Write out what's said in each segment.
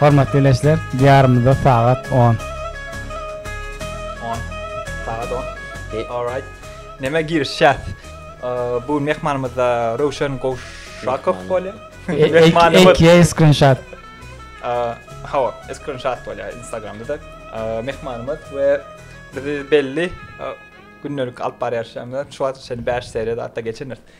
Hormatly ileçiler, Diýarymyzda sagat on. On. Sagat on. Okey. All right. Nämä girişýäs? Bu mehmanymyz-da Röwşen Gowşakow bolýar. Mehmanymyz. Eki screenshot. Hawa, screenshot bolýar Instagramda-da. Mehmanymyz we bizi belli gündelik alyp barýan işlerimize şu wagta çenli bäş seriýa-da atda geçendiris.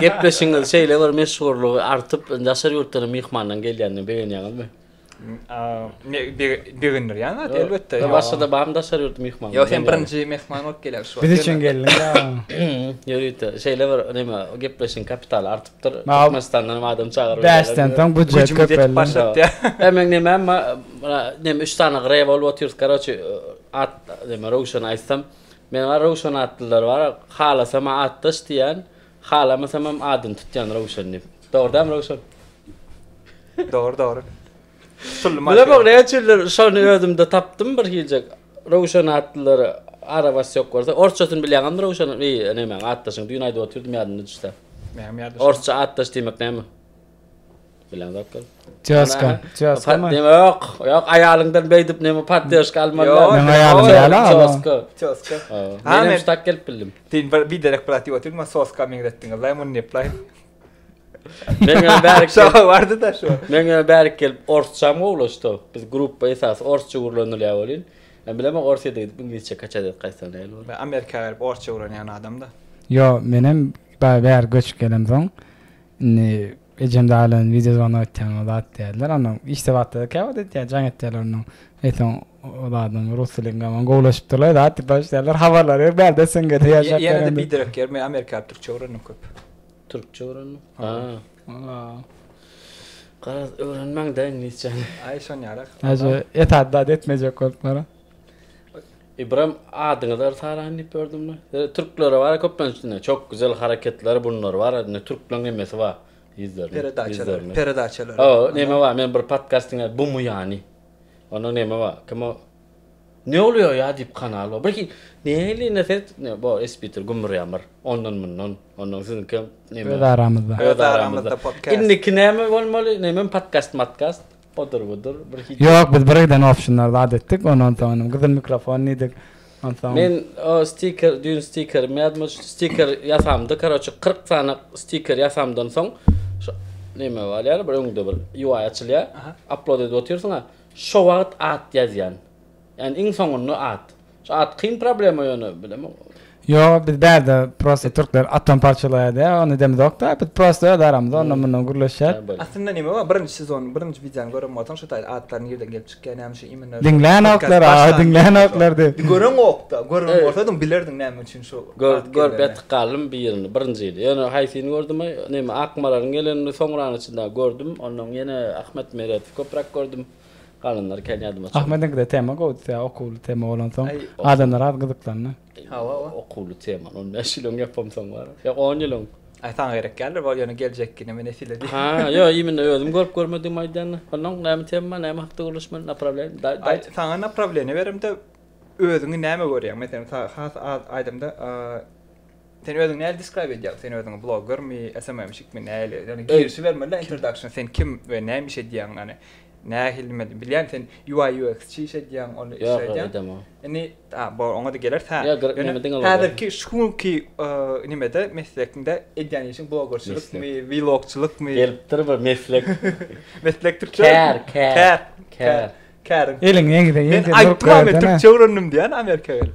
Gepleşigiňiz şeýle bir meşhurlygy artyp, daşary ýurtdan myhmanlaryň gelýändigini begenýäňizmi? Begendirýän zat elbetde. Başga-da barmy daşary ýurt myhmany? Ýok, sen birinji myhman bolup gelýän şu. Biz üçin geldiňiz-ä. Ýörite, şeýle bir näme, gepleşigiň kapitaly artypdyr. Türkmenistandan hem adam çagyryp. Bäşden soň büjet köpeldi. Hemeň näme, näme üç sany gre bolup otyrys, karoçi, at näme, röwşen aýtsam. Meň-ä Röwşen atlylar bar, halasam-a atdaş diýýän, halamasamam adyny tutýan Röwşen diýip. Dogry dämi, Röwşen? Dogry, dogry. Şul maşyn. Bilemok, näme üçindir şony özümde tapdym bir hiljek. Röwşen atlylar arabasy ýok bolsa. Orsçasyny bilýäňizmi Röwşen? Eý, nemäň atdaşyň? Düýn aýdyp otyrdym ýadymda düşse. Näme ýadymda? Orsça atdaş diýmek näme? Bilen zat gal. Týaska, týaska mı? Patdem ýok. Ýok, aýalyňdan beýdip neme patdeşka almalylar. Ýok, Meň aýalym ýok. ýaly ala. Soska. Týoska. Hawa. Ha, Menem men- şu tak gelip bildim. Sen bir biderek brat diýip otyryn, maňa soska meňzetdiň. Allaýam ony neplaýyn. Meň öň bärik gelip, Şoka bardy-da şu. meň öň bärik gelip orsçam gowlaşdy. Biz gruppa esasy orsça gürlenilýär welin, men bilemok Orsyýada gidip iňlisçe kaçat edip gaýtsam näl bolar. Men Amerika berip orsça öwrenýän adam-da. Ýok, menem ba- bäri göçüp gelemsoň, Indi ejem daglan wideo zwanok etýäňiz zat diýýärler. Onda işde wagtda-da käwagt etýär, jaň etýärler onuň. Eýsem o zadyň rus dili bilen hem gowulaşypdyrlar, zat diýip başlaýarlar. Habarlary ýok, bärde SNG-de ýaşap ýör indi. Ýene-de biderek ýör. Men amerikaly türkçe öwrendim köp. Türkçe öwrendiň? Ha. Garaz, öwrenmäň-dä iňlisçäni. Aý, şonýaly. Aýje, esasy zady etmejek boluplar-a. Ybram adyňyzy yrs araýyn diýip gördüm indi. Ýöne türklere bar köplenç indi çok güzel hareketleri bunlar bar. Indi türkleň hemmesi bar ýüzlerine. Peredaçalar. Peredaçalar. O neme bar men bir podcast diňe bumu ýany. Onda neme bar? Kim o? Ne bolýar ýa diýip kanal bar. Birki neýli ne set ne bo espitr gümür ýamyr. Ondan mundan. Ondan siziňki hem neme. Öz aramyzda. Öz aramyzda podcast. Indiki neme bolmaly? Neme podcast matkast? Odur-budur bir hit. Ýok, biz birgiden optionlar zat etdik, ondan soň inem gyzyl mikrofon diýdik. Onsoň. Men o stiker, düýn stikerim ýadyma düşdi. Stiker ýasamdy, karoçe, kyrk sany stiker ýasamdan soň şu neme bar ýaly, bir öňde bir UI açylýar, upload edip otyrsyň-a, şo wagt at ýazýan. Ýani iň soňunda at. Şu at kyn problema ýöne bilemok. Ýok biz bärde prosta türkler atom parçalaýar diýýär ony demizokda biz prosta öz aramyzda ondan mundan gürleşýär. Aslynda neme bar birinji sezonyň birinji wideony gören bolsaň şu taýda atlar nirden gelip çykýar näme üçin imенно şu Diňlänoklar a diňlänoklar diýip. Di göreňokda gören bolsadyň bilerdiň näme üçin şu at geleni. Gör gör betik galdym birini birinjini ýöne haýsyny gördüm neme akmalaryň gelenini soňrany içinde gördüm ondan ýene ahmet meredowy köpräk gördüm. Galanlary kän ýadyma çyk. Ahmediňkide tema gowdy tä okuwly tema bolansoň adamlar az gyzyklandy. Hawa hawa. Okuwly temany on bäş ýylyň ýapamsoň bar. Ýok on ýylyň. Aý saňa gerek däldir bol ýöne geljek kine men esile diýip. Ha ýo imine özüm görüp görmedigimi aýdýan. Onnoň näme tema näme hakda gürleşmeli naprawiýen daýt. Aý saňa naprawiýeniýe beremde özüňi näme görýäň meselem has az aýdamda Sen özüňi näli describe edýäň? Sen özüňi bloggermi, SMM-şikmi, näli? Ýagny girişibermeli-dä introduction, sen kim we näme iş edýäň? Ýagny nähili men bilýän sen UI UX-çi iş edýäň, ony iş edýäň. Ýok, edemok. Indi a bor oňa-da geler tä. Ýa gyryk näme diňe bolýar. Häzirki şu günki nimede meslegiňde edýän işiň bloggerçilikmi, vlogçylykmy? Gelipdir bir meslek. Meslek türkçe. Kär, kär. Kär. Kär. Eliňi eňize eňize durup görüp. Men aýtdym-a men türkçe öwrendim diýýän Amerika gelip.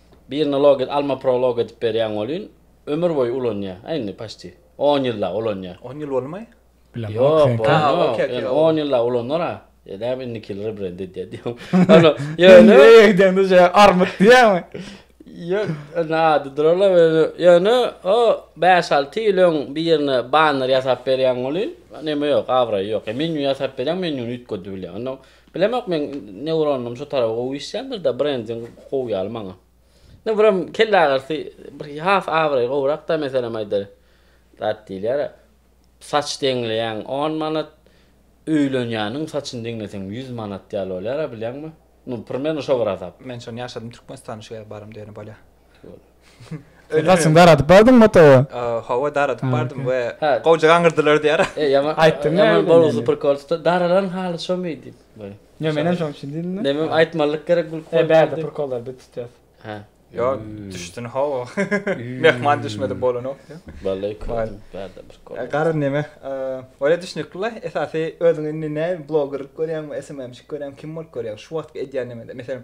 Birine log et alma pro log edip berýäň welin ömür boýy ulanýa a indi paşti on ýyllap ulanýa. On ýyl boldumy? Ýok bolmaz ýöne on ýyllap ulanar a edäp indikili rebrend edýär diýýän. Öýe gidende şeýle armyt diýýäňmi? Ýok indi ady durala ýöne o bäş alty ýyl öň birine banner ýasap berýäň welin neme ýok abraýy ýok menýu ýasap berýäň menýuny üýtgedi bilýän ondan Bilemok meň neuronym şu tarapa gowy işländirda brending gowy ýaly maňa. Ne birem kelleagyrysy bir has abraý gowrakda meselem aýdaly zat diýilýär saç deňleýäň on manat öýlenýäniň saçyny deňleseň ýüz manat ýaly bolýara bilýäňmi. Nu primerne şo bir hasap. Men şony ýaşadym Türkmenistana şu ýere barym diýenim bolýa. Gaçyň daradyp bardyň motory? Hawa, daradyp bardym we gowja gaňyrdylar diýýär. Aýtdyň näme? Ýaman bolgusyz prkolçyda daralan haly şomy diýip. Ýa menem şoň üçin diýdim-de. Näme aýtmalyk gerek gülüp goýup. Bärde prkollar biz tutýas. Hä. Ýa düşdün hawa. Mehman düşmedi bolanok diýip. Wallay kördüm bärde prkol. Garry näme? Ol-a düşnükli-le. Esasy özüňi indi näme blogerlik görýäňmi, SMM-şik görýäňmi, kim bolup görýäň? Şu wagtky edýän näme? Meselem,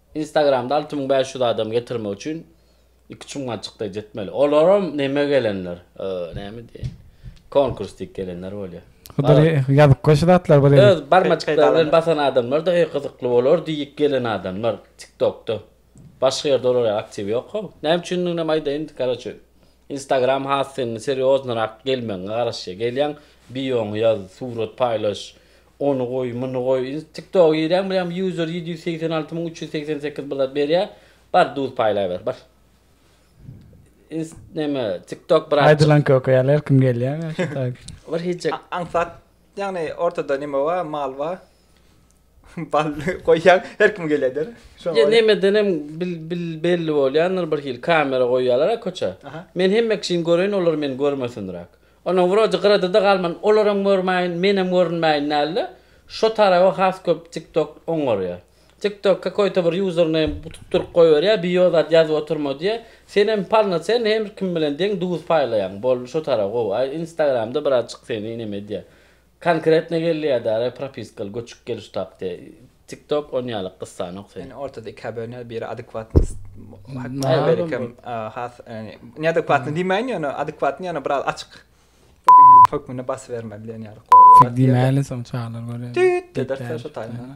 Instagramda alty müň bäş ýüz adam getirmek üçin iki çuňňaçykda jetmeli. Olaram neme gelenler, name diýen, konkurs diýip gelenler bolýar. Huduri ýazyp goý şu zatlary bir ýere. Öz barmaçyklary bilen basan adamlar-da eý gyzykly bolar diýip gelen adamlar TikTokda. Başga ýerde olar aktiw ýok-how. Näme üçindiginem aýdaýyn, karoçe, Instagram has seň serýoznyrak gelmegiňe garaşýar. Gelýäň, bioňy ýaz, surat paýlaş, Ony goý, muny goý. Ins TikToga girýäň bileýäň user ýedi ýüz segsen alty müň üç ýüz segsen sekiz blat berýä. Bar duz paýlaýber, bar. Ins neme TikTok brat. Aýdylanka okaýaly her kim gelýär şu tak. Bir hiç jak. Aňsat ýagny ortada neme bar, mal bar. Bal goýýaň her kim gelýär der. Şoňa Ýa görä. nemeden hem bil bil belli bolýandyr birhili kamera goýýalar-a köçä. Aha. Men hemme kişini göreýin olar meni görmesindiräk. Onuň wrodi gyrada-da galman, olaram görmäýin, menem görünmäýin däldi. Şo taraba has köp TikTok oňarýar. TikTok kakoýta bir username tutduryp goýberýär, bio zat ýazyp oturma diýýär. Sen hem palna sen her kim bilen deň duz paýlaýaň. Boldy şo tarap gowy. Aý Instagramda biraz çyk seni neme diýýär. Konkretno geldi edara propiskaly göçüp geliş takty tik tok on yaly kyssa nok sen. Ýani ortada iki abone biri adekwatnyst hakynda berikim has ýani neadekwatny diýmäýin ýöne adekwatny ýöne biraz açyk pofigizm hökmünde basyberme diýen ýaly gowy bolardy diýýärler. Tik diýmäýli soň çagalar görýär. Düýt diýerse şo taýyndan.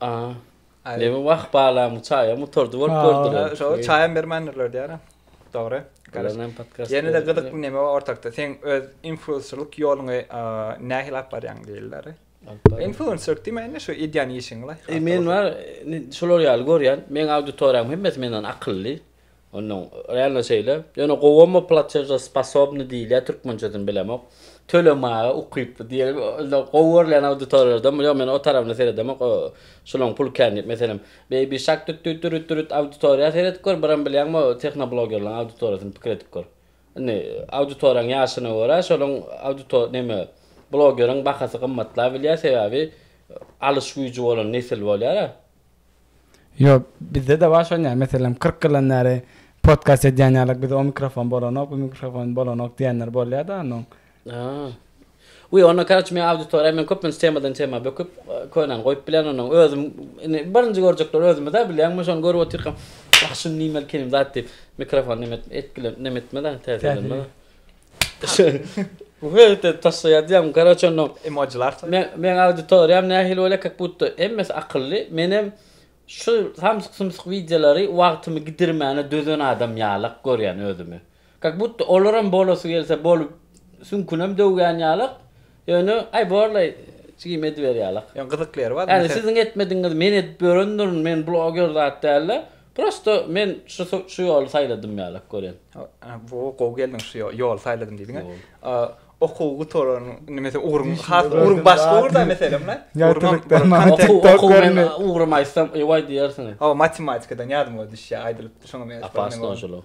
A. Neme wah balam çaýa mutardy bolup gördüler. Şo çaýam bermändirler diýarem. Dogry. Ýene-de gyzykly neme bar ortakda. Seň öz influencerlyk ýoluňy nähili alyp barýaň diýilýär. Influencerlyk diýmek indi şu edýän işiňi. Men bar şolar ýaly görýän. Meň auditoriýam hemmesi menden akylly. Onuň realno şeýle. Ýöne gowumy plaçežosposobny diýilýä türkmençesini bilemok. Tölemage ukyply diýeli indi gowy görlen auditoriýalardan ýok men o tarabyna seredemok o şulaň pul kän diýip meselem Baby Shark düt düt düt düt auditoriýa seredip gör biram bilýäňmi tehnoblogerlaň auditoriýasyny pikir edip gör. Indi auditoriýaň ýaşyna görä şolaň auditor neme blogeriň bahasy gymmatlabilýä sebäbi alyş güýji bolan nesil bolýara. Ýok, bizde-de bar şon ýaly, meselem, kyrk ýyldan bäri podkast edýän ýalyk, bizde o mikrofon bolanok, bu mikrofon bolanok diýenler bolýar-da onuň. Aa. Wiý, onda karaçi meň auditoriýa, men köplenç temadan tema böküp, könäni goýup bilän onuň. Özüm, indi birinji görjekler özümiz-ä, bilýäňmi, şony görüp otyrkam, wah, şuny diýmeli kelim zat diýip, mikrofon neme etmez-ä, täsirlenmez-ä. Wewte taşlaýar diýýäň, garoç onda. Emojilar. Men meň auditoriýam nähili bolýar kak budda hemmesi akylly. Menem şu samsyk sumsyk wideolary wagtymy gidirmäne dözen adam ýalak görýän özümi. Kak budda olaram bolasy gelse bolup süňkünem döwýän ýalak. Ýöne aý borlaý jigim ediber ýalak. Ýöne gyzykly ýeri bar. Ýani siziň etmedigiňizi men edip ýörendirin, men bloger zat dälde. Prosto men şu şu ýoly saýladym ýalak görýän. Wo gowy geldiň şu ýoly saýladym diýdiň he. Okuw gutaran nimesi ugruň has ugruň başga ugurda meselem ne? Ugrum aýtsam ewaý diýersiň. Hawa matematikadan ýadyma düşýär aýdylypdy şoňa meňzeş. Apasnoşulyk.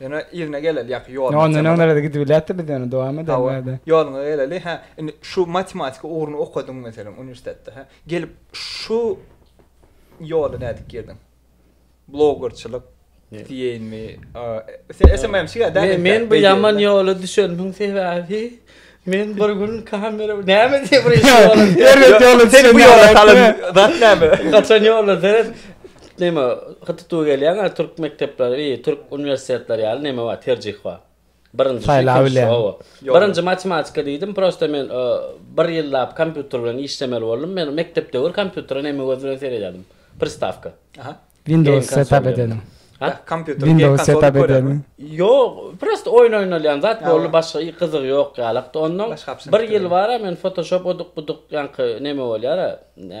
Ýöne yzyna geleli ýaky ýoluna. Ýa ondan öňlerede gidip bilýärdi biz ýöne dowam eden bärde. Ýoluňa geleli hä indi şu matematika ugruny okadyň meselem uniwersitetde hä gelip şu ýola nädip girdiň? Blogerçilik diýeýinmi? Sen SMM-çi däl. Men bu ýaman ýola düşenimiň sebäbi Men bir gün kamera näme diýip bir iş bolan. Erbet ýola düşen. Bu ýola salan zat näme? Gaçan ýolda seret. Näme hyttytuw gelýäň, türk mekdepleri, türk uniwersitetleri ýaly näme bar, terjih bar. Birinjisi ikinjisi oba. Birinji matematika diýdim, prosta men bir ýyllap kompýuter bilen işlemeli boldum. Men mekdep döwür kompýutere näme göz bilen seredýärdim? Pristawka. Windows setup edeniň. Ha? Kompýuter Windows setup edeniň. Ýok, prosta oýun oýnalýan zat boldy, başga i gyzygy ýok ýalykdy. Ondan bir ýyl bara men Photoshop oduk-buduk ýaňky neme bolýara,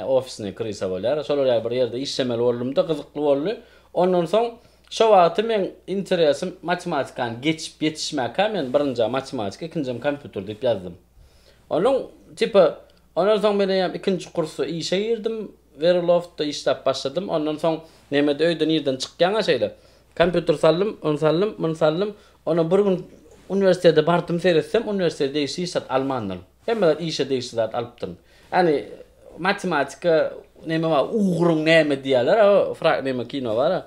ofisne krysa bolýara, şolar ýaly bir ýerde işlemeli boldumda, gyzykly boldy. Ondan soň şo wagty meň interesim matematikany geçip ýetişmäkä men birinjä matematika, ikinjem kompýuter diýip ýazdym. Onuň tipa Ondan soň men eýýäm ikinji kursa işe girdim. Veriloftta işläp başladym. Ondan soň Mehmet öýde nirden çykýaň-a şeýle? Kompýuter saldym, ony saldym, muny saldym. Onam bir gün uniwersitete bardym, seretsem, uniwersitete degişli hiç zat almandyryn. Hemme zat işe degişli zat alypdyryn. Ýagny matematika neme bar, ugruň näme diýýärler-ä o, fra, neme kino bar-a.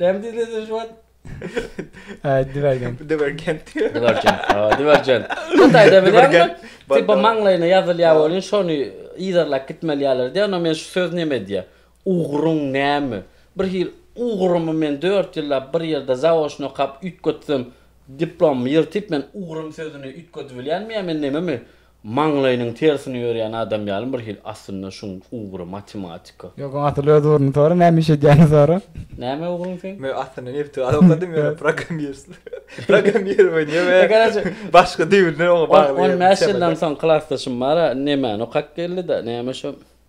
Näme diýdi özü şu wagt? Ay divergent. Divergent. Divergent. Ha, divergent. Sen taýda bilenmi? Tipa maňlaýyna ýazylýar bolýan şony yzarlap gitmeli ýalar diýýär. Onda men şu söz näme diýýär? Ugruň näme? Bir hil ugrumy men dört ýyllap bir ýerde zaoçno okap üýtgetsem diplomymy ýyrtyp men ugrum sözüni üýtgedibilýänmi ýa men nämemi? Maňlaýynyň tersine ýörýän adam ýalym bir hil aslynda şuň ugry matematika. Ýok oň asyl öz ugruny sora näme iş edýäni sora. Näme ugruň seň? Men aslynda nebiti galy okadym ýöne programmirsiz programmirowany ýöne başga düýbünden oňa bagly. On bäş ýyldan soň klasdaşym bara nemäni okap geldi-da näme şo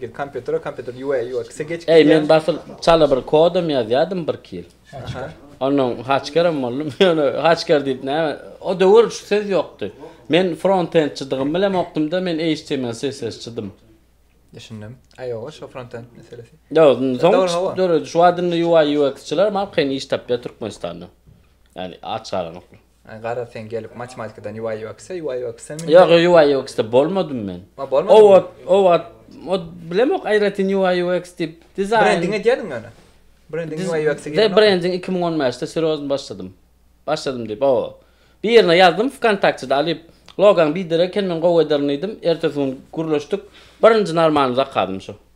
Gir kompýutere kompýuter UA UX-e geçip gidýär. Eý men basyl çala bir kodam ýazýadym bir iki ýyl. Ondan haçkerem boldum. Ýöne haçker diýip näme o döwür şu söz ýokdy. Men frontendçidygym bilen okdumda men HTML CSS çydym. Düşündim. Aý ýoga şo frontend meselesi. Ýok indi soň çykyp dur özi. Şu wagt indi UA UX-çylar maňa kyn iş tapýar Türkmenistanda. Ýani aç garaňoklar. Ay garaz sen gelip matematikdan UI UX UI UX mi? Yok UI UX da bolmadım men. Ha bolmadım. O ot o ot o bilemok ayratyn UI UX dip dizayn. Brending edýädiň öne. Brending UI UX girdi. De brending 2015 de serozny başladym. Başladym dip o. Bir yerine yazdım vkontakte da alyp logan bir dere eken men gowy ederin diýdim. Ertesi gün gürleşdik. Birinji normalny zakazym şu.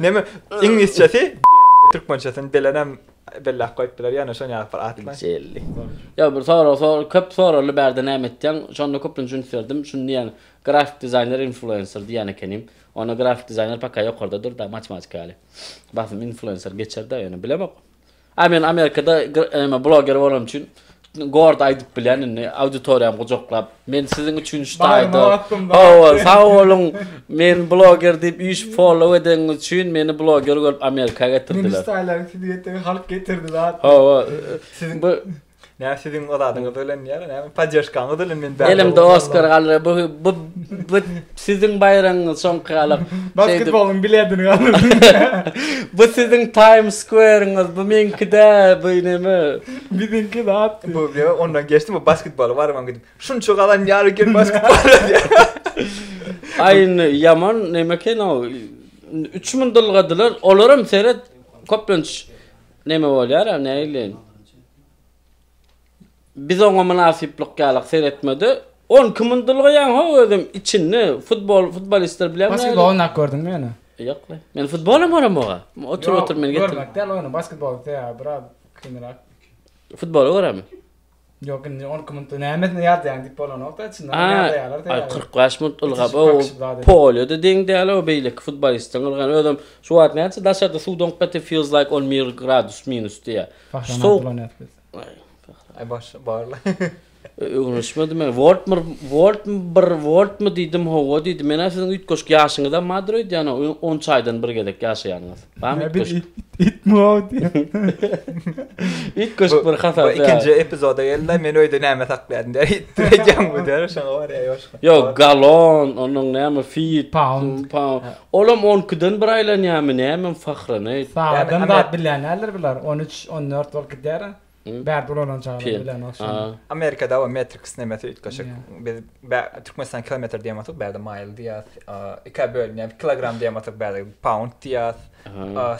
Näme? Iňlisçesi türkmençesini belenem belläp goýupdylar, ýöne şony ýazyp bir atla. Jelli. Ýa bir sorag sor, köp sorarly bärde näme etýäň? Şonda köplenç üns berdim. Şuny diýýän, grafik dizaýner influenser diýýän ekenim. Onda grafik dizaýner paka ýokarda dur-da, matematika ýaly. Basym influenser geçer-de, ýöne bilemok. A men Amerikada eme bloger bolan üçin Gord aýdyp bilen indi auditoriýam gujaklap. Men siziň üçin ştaýda. Hawa, sag boluň. Men bloger diýip üýş follow edeňiz üçin meni bloger görüp Amerika getirdiler. Meni ştaýlaryň sizi getirdi, halk getirdi zat. Hawa. Siziň Näme siziň oladyňyz bilen ýa näme poddeşkaňyz bilen men bäri. Elimde Oskar galdy. Bu bu bu siziň baýragyňyz soňky galyp. Basketbolyň biledini galdy. Bu siziň Times Square-iňiz, bu meňki-de, bu näme? Biziňki zat. Bu näme ondan geçdi bu basketbola barman gidip. Şunça galan ýar eken basketbol. Aýyn ýaman näme eken o? 3000 dylgadylar. Olaram seret köplenç Neme bolýar a näleýin. Biz oňa mynasyplyk ýalak seretmede on iki mun dylgaýaň ho özem içinde futbol futbolistler bilen. Basketbol oýnap gördüňmi ýöne? Ýok le. Men futbolam görem oga. Otur otur men getir. Görmek däl oýny basketbol ýa biraz kynrak. Futboly göremi? Ýok indi on iki minutda nämesine ýadaýaň diýip bolanok-da içinden Aa, ýadaýarlar teýýär. ay, kyrk bäş minut ylgap, Ýetişip o gakyşyp zat edip. polýa-da deň däl, o beýleki futbolistiň ylgany, özem şu wagt näçe daşarda suw doňup gaty feels like on mir gradus minus diýýär. Şu Bahram sowuk, Abdullanýaz biz. ay, Bahram. Ay başy barla. Ö, öwrenişmedi men. Woltmyr, Woltmy bir, Woltmy diýdim, hawa diýdi. Men-ä siziň üýtgeşik ýaşyňyzam bardyr öýdýän-ow, on çaýdan bir gezek ýaşaýanyňyz. Bam it köşk. It mowt. It köşk bir hasap. Bu ikinji epizoda geldi. Men öýde näme saklaýardym diýär. It diýýän bu diýär. Şoňa bar ýa ýoşka. Ýok, galon, onuň näme feet, pound, pound. Olam 12-den bir aýlanýarmy näme, fahrenheit. Sagatdan da bilýän näler biler. 13, 14 bolup gidýär. Bärde ulalan çagalar bilen ogşan. Amerikada o metrik sinemesi üýtgeşik. Biz Türkmenistan kilometr diýen bolsak, bärde maýl diýýäs. Ikä bölünýär. Kilogram diýen bolsak, bärde pound diýýäs.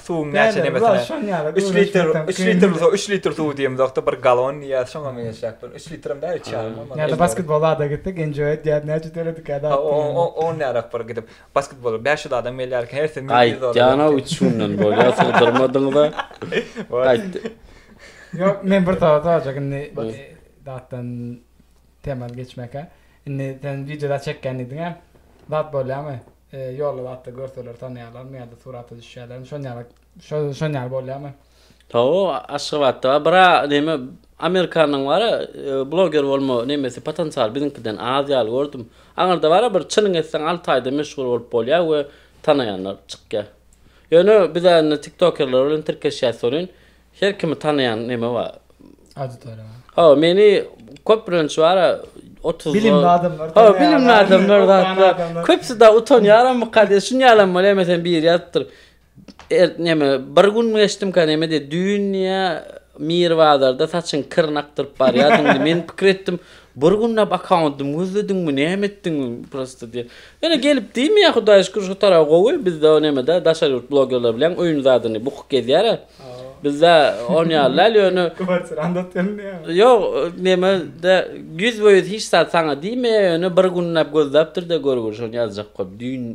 Suwuň näçe nemesine? 3 litr, 3 litr bolsa 3 litr suw diýen bolsak, bir galon diýýäs. Şoňa meňzeşýär. 3 litr hem däl, 3 ýarym bolmaly. Ýa-da basketbol zada gitdik, enjoy diýýäs. Näçe töledik ýa-da? O nära bir gidip. Basketbola bäş ýüz adam gelýär eken, hersi müň ýüz dollar. Gaýtýan-a üç günden bolýar, sygdyrmadyňyz-a. Gaýtdy. Ýok, men bir sowal sorajak indi zatdan temadan geçmäkä. Indi sen wideoda çekýän diýdiň-ä. Zat bolýarmy? Ýolda zatda görseler tanaýarlarmy ýa-da surata düşýärlermi? Şonuň ýaly Şo şon ýaly bolýamy? Taw, Aşgabatda bar. Bra, näme, Amerikanyň bar-a, e, bloger bolma nämesi, potensialy biziňkiden az ýaly gördüm. Aňyrda bar-a bir çynyň etseň alty aýda meşhur bolup bolýar we tanaýanlar çykýar. Ýöne biz-ä indi tiktokerler bilen tirkeşýäs welin, her kimi tanaýan näme bar. Auditoriýa bar. Hawa, meni köplenç bar-a, otuzda. Bilimli adamlar Hawa, tanaýar, bilimli adamlar, okuwan zatlar. adamlar. Köpüsi-de utanýaramyka diýip, şuny ýalam bolýar, meselem, biri ýazypdyr. Er, neme, bir gün geçdimkä nemedi, düýn-ä Mir bazarda saçyň kirini akdyryp barýardyň, men pikir etdim, bir günläp akkauntymy gözlediňmi, näme etdiň, prosto diýen. Ýöne gelip diýmeýär, Hudaýa şükür, şu taraby gowy, bizde o neme-dä, daşary ýurt blogerleri bilen öýüň zadyny bukup gezýär-ä. Bizde on ýaly däl, ýöne. Kwartirany-da otyryň diýýärmi? Ýok, neme-de, ýüzbe-ýüz hiç zat saňa diýmeýär, ýöne bir günläp gözläpdir-de, görgür, şony ýazjak bolup, düýn,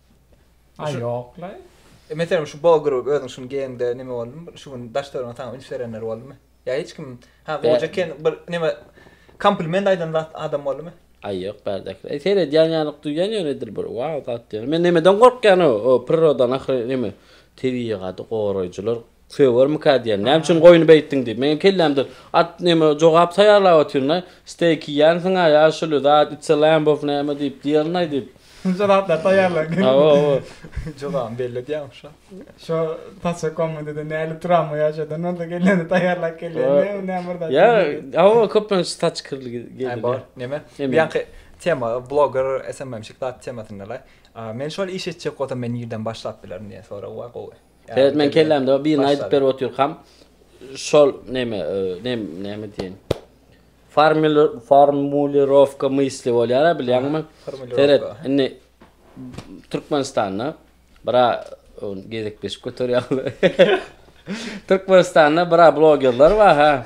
Aý ýoklaý. Meselem şu Bo Group özüň şuny geýeňde neme boldy? Şu gün daş töweregiňe saňa üns berenler boldumy? Ýa hiç kim ha goja eken bir neme kompliment aýdan zat adam boldumy? Aý ýok bärdekiler. Seredýän ýalyk duýýan ýöne edil bir waww zat ýöne. Men nemeden gorkýan o prirodan ahyry neme tebigady goraýjylar Sögermikä diýen. Näme üçin goýny beýtdiň diýip. Meň kellämde at neme jogap taýýarlap otyryn-aý. Steýk iýýänsiň-aý, ýaşuly zat içse lamb of näme diýip diýerin-aý diýip. Şunça zatlary taýýarlaň. Hawa-hawa. Jogabym belli edýäňok şa. Şo taşşa komnatada näli turanmy ýaşadan bolsa kelleni taýýarlap gelýän näme näme bir zat. Ýa, hawa köplenç saç kirli gelýär. Aý bor, neme. Bu ýanky tema bloger SMM-şik zat temasynda-laý. Men şol iş etjek bolsam men nirden başlap bilerin diýen sorag bar gowy. Seret men kellämde birini aýdyp berip otyrkam şol neme nem neme diýen formulirowka mysli bolýar bilýäňmi? Seret indi Türkmenistanda bira gezekleşip göterýärler. Türkmenistanda bira blogerler bar ha.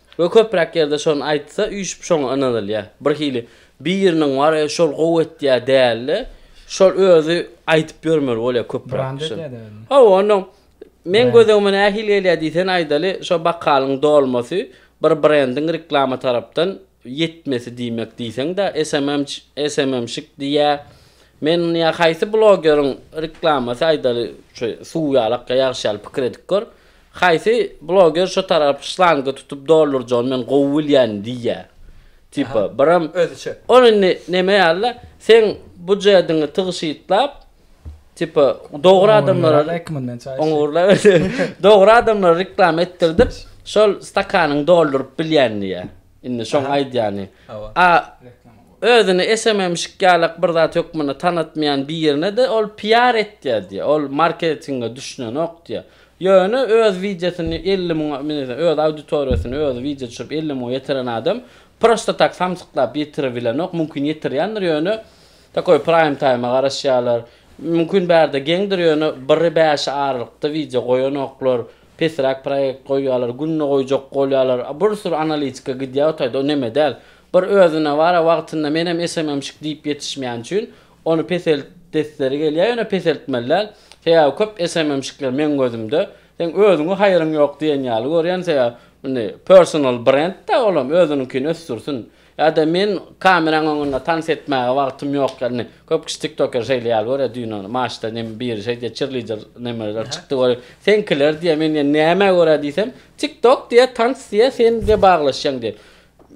We köpräk ýerde şony aýtsa üýşüp şoňa ynanylýa. Bir hili biriniň bar e şol gowy etýä dälde şol özi aýdyp ýörmeli bolýa köpräk kişi. Hawa onda meň gözegime nähili gelýä diýsen aýdaly şo bakalyň dolmasy bir brendiň reklama tarapdan ýetmesi diýmek diýseňdä SMMç SMMşik diýýä men ony ýa haýsy blogeriň reklamasy aýdaly şu suw ýalak ýa ýagyş ýaly pikir edip gör Haýsy bloger şo tarap şlanga tutup doldurjagyny men gowy bilýän diýýä. Tipa biram Özüçe. Ol indi neme ýalyda seň bujedyňy tygşytlap tipa dogry adamlara Oňurlara ekmin men çaý içýän. Oňurlara dogry adamlara reklama etdirdip şol stakanyňy dolduryp bilýän diýýä. Indi şoň Aha. aýdýany. Hawa. A özüni esememişik ýalak bir zat hökmünde tanatmaýan birine-de ol PR etýär diýýä. Ol marketinge düşünenok diýýä. Ýöne öz wideosyny elli müňe, menimçe, öz auditoriýasyny özi wideo düşürip elli müňe ýetiren adam prosta tak samsyklap ýetiribilenok, mümkin ýetirýändir ýöne takoý praým taýma garaşýarlar. Mümkin bärde geňdir ýöne biri bäşe aralykda wideo goýanoklar, pesräk proýekt goýýarlar, günde goýjak bolýarlar, a bir sürü analitika gidýär o taýda o neme däl. Bir özüne bar-a wagtynda menem SMM-şik diýip ýetişmeýän üçin Ony peseltdesleri gelýär, ýöne peseltmeliler. Sebäbi köp SMM-şikler meň gözümde, seň özüňi haýryň ýok diýen ýaly görýän, sebäbi indi personal brend-de, olam özüniňkini ösdürsin. Ýa-da men kameraň öňünde tans etmäge wagtym ýok, indi köp kişi tiktoker şeýle ýaly görýär, düýn ony maçda neme biri şeýdi, çirlider nemeler çykdy görüp, seňkiler diýýär, men diýýän nämä görä diýsem, tiktok diýýär, tans diýýär, sen diýýär baglaşýaň diýýär.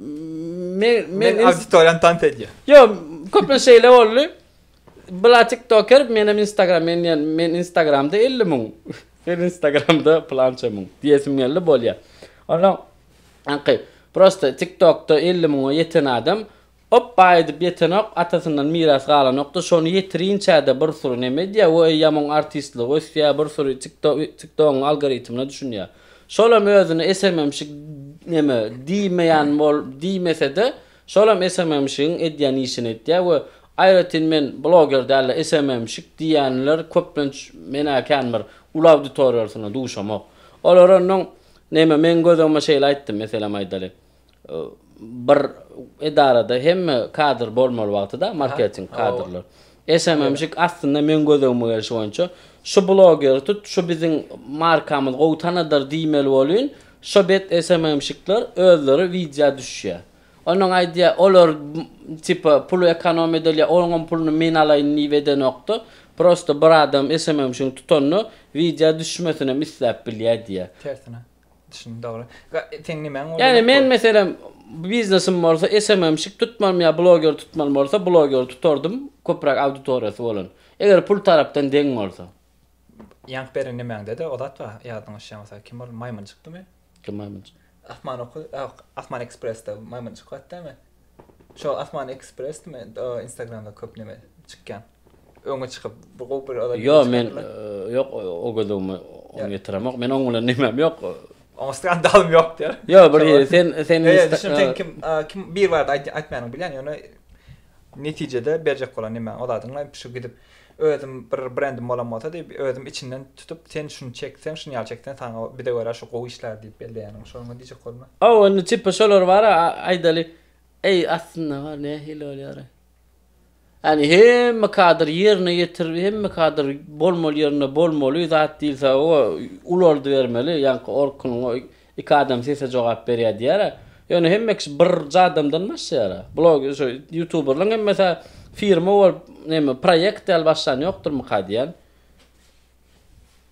Men men auditoriýany tans edýär. Yo, köplenç şeýle boldy. Bula TikToker, men hem Instagram, men diýen, men Instagramda 50 müň. Men Instagramda plança müň diýesim geldi, bolýar. Onda anki prosta TikTokda 50 müňe ýeten adam op baý edip ýetenok, atasyndan miras galanokda, şony ýetirinçäde bir sury neme edýär, we ýamun artistligi ösýär, bir sury TikTok, TikTogyň algoritmine düşünýär. Şolam özüne esememişik neme, diýmeýän bol, diýmese-de, şolam esememişigiň edýän işini etýär we aýratyn men bloger däl-de, esememişik diýýänler köplenç menä kän bir uly auditoriýasyna duşamok. Olar onnoň, neme, meň gözlegime şeýle aýtdy, meselem aýdaly, Bir edarada hemme kadr bolmaly wagtyda marketing kadrlar. SMMşik aslynda meň gözegime gelşi boýunça şu blogeri tut şu biziň markamyz gowy tanadyr diýmeli bolyn şo bet SMMşikler özleri widýa düşýä. Onuň aýdýa olar tipa puly ekonom edilýä oňam puluny men alaýyn diýip edenokda prosta bir adam SMMşigiň tutanyna widýa düşmesinem isläp bilýä diýä. Tersine. Düşündim dogry. Ga seň nimäň boldy? Ýani men meselem biznesim bolsa SMM'şik tutmalym ýa bloger tutmalym bolsa blogeri tutardym köpräk auditoriýasy bolan. Eger pul tarapdan deň bolsa. Ýank beren nimäňdede o zat bar ýadyňa düşýän bolsa kim boldy maýmynjykdymy? Kim maýmynjyk? Asman oky ýok Asman ekspressde maýmynjyk zat dämi? Şo Asman ekspressdimi o instagramda köp neme çykýan. öňe çykyp bu gowy bir adam. Ýok men ýok o gözümi oňa ýetiremok. Men oň bilen nimem ýok. Oňa skandalym ýok diýer. Ýok bir sen sen sen kim kim bir barda aýtmaýanyň bilýän ýöne netijede berjek bolan nimäň o zadyň şu gidip özüm bir brendim bolan bolsa diýip özüm içinden tutup sen şuny çekseň şuny ýaly çekseň saňa bize görä şu gowy işler diýip belleýäniň şoňa diýjek bolma. O indi tipa şolar bar aýdaly eý aslynda bar nähili bolýar. Ýagny hemme kadr ýerine ýetirip, hemme kadr bolmaly ýerinde bolmaly zat diýilse o ulaldy bermeli, ýaňky Orkunyň o iki adam sese jogap berýär diýýär-ä. Ýöne hemme kişi birje adamdan başlaýar-a. Blog şu ýutuberlaň hemmesi-ä firma bolup neme proýekt ýaly başlan ýokdurmyka diýýän.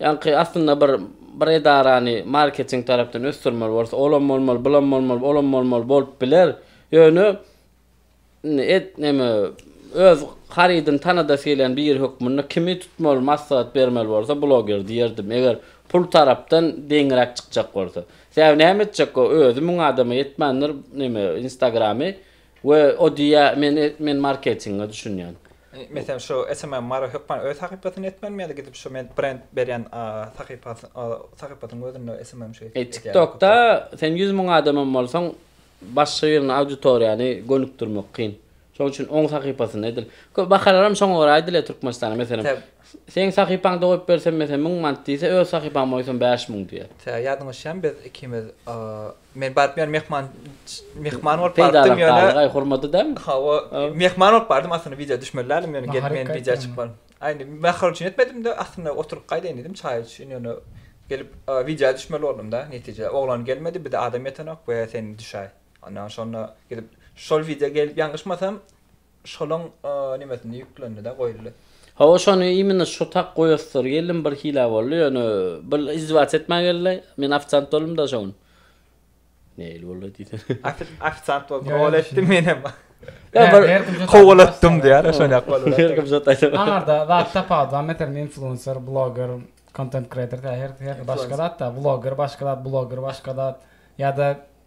Ýaňky aslynda bir bir edarany marketing tarapdan ösdürmeli bolsa, olam bolmaly, bulam bolmaly, olam bolmaly bolup biler. Ýöne indi et neme öz harydyny tanadasy gelýän biri hökmünde kimi tutmaly maslahat bermeli bolsa bloger diýerdim. Eger pul tarapdan deňiräk çykjak bolsa. Sebäbi näme etjek o özi müň adama ýetmändir neme instagramy. We o diýýä men men marketinge düşünýän. Meselem şu SMM Mary hökman öz sahypasyny etmelimi ýa-da gidip şu men brend berýän sahypasy sahypasynyň özünde SMM şu etýär. TikTokda sen ýüz müň adam hem bolsaň başga birini auditoriýany gönükdirmek kyn. Şonuň üçin oň sahypasyny edil. Köp bahalaram şoňa görä edilýär Türkmenistanda meselem. Seň sahypaňda goýup bersem meselem müň manat diýse öz sahypaňda goýsam bäş müň diýýär. Tä ýadyňa düşýämi biz ikimiz Men baryp ýöne mehman mehman bolup barypdym ýöne. Aý hormaty däl. Hawa, mehman bolup bardym aslynda wideo düşmeli däldim ýöne gelip men wideo çykmadym. Aý indi nahar üçin etmedimde aslynda oturyp gaýdaýyn diýdim çaý üçin ýöne gelip wideo düşmeli boldumda netije oglan gelmedi bir-de adam ýetenok we sen düşäý. Ondan şonda gidip şol wideo gelip ýalňyşmasam Şolaň nimesinde ýüklendi-de goýuldy. Hawa şony imina şu tak goýasdyr geldim bir hila boldy ýöne bir izdiwaç etmä geldi men ofisant boldum da şo gün. Neil boldy diýsene. Ofisant boldy rol etdim menem. Kowalatdym diýýär şonýak boldy. Her kim şo taýda. Aňarda zat tapawut bar meselem influencer, bloger, content creator her her başga zat-da vloger başga zat bloger başga zat ýa-da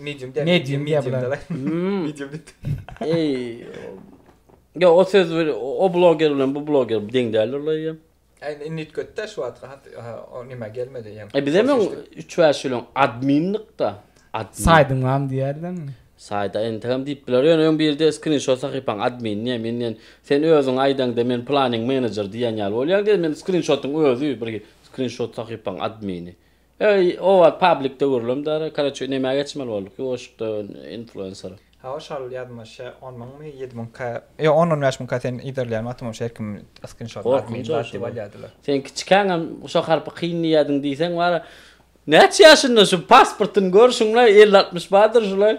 Medium der. Medium diýýär bular. der. Hmm. Medium diýip. Eý. Yo, o söz bir- o bloger bilen bu bloger deň däldir olar ýa. Äýne indi üýtgetdi-de şu wagtky hat ha, o näme gelmedi ýa. E bizem öň üç-bäş ýyl öň adminlikda. Admin. Saýdyň bamy diýerlermi? Saýda entegem diýip biler. Ýöne öň birde skrinşot sahypaň admin diýýär. Men diýen, sen özüň aýdaňda men planiň menejer diýen ýaly bolýaň diýen. Men skrinşotyň özi bir skrinşot sahypaň admini. Eý owaz public döwürlem dara koroçe nämä geçmeli bolduk ýuwaşykda influencer. Hawa şol ýazyma şe on müňmi ýedi müň ka ýok on on bäş müň ka sen yzarlaýan wagtym şo her kim skinşotyny alyp meni zat diýip alýadylar. Sen kiçikäňem şo harpy kyn diýýädiň diýseň wara näçe ýaşynda şu pasportyny gör şuňla elli altmyş bardyr şulaý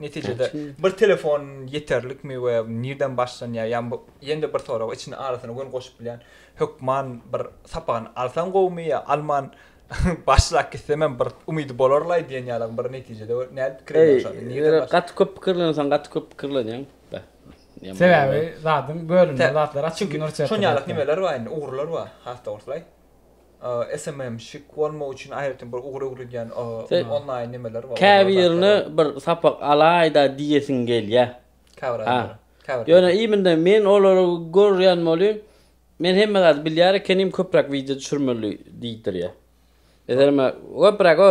Netijede bir telefon ýeterlikmi we nirden başlanýar? Ýa ýene-de bir sorag içine arasyna göni goşup bilýän hökman bir sapagyny alsaň gowumy ýa alman başlap gitsem hem bir umydy bolarlaý diýen ýalam bir netijede nädip pikir edýäň şonda? Nirden başlaýan? Gaty köp pikirlenseň gaty köp pikirlenýäň. Sebäbi zadyň bölünme zatlar açyk. Çünki şon ýaly nimeler bar indi ugurlar bar has dogruslaý. SMM-şik bolmak üçin aýratyn bir ugur öwredýän onlaýn nemeler bar. Käbirine bir sapak alaýda diýesiň gelýä. Käbir adamlara. Käbir. Ýöne iminde men olary görýän bolýyn. Men hemme zady bilýär ekenim köpräk wideo düşürmeli diýdirýä. Meselem köpräk o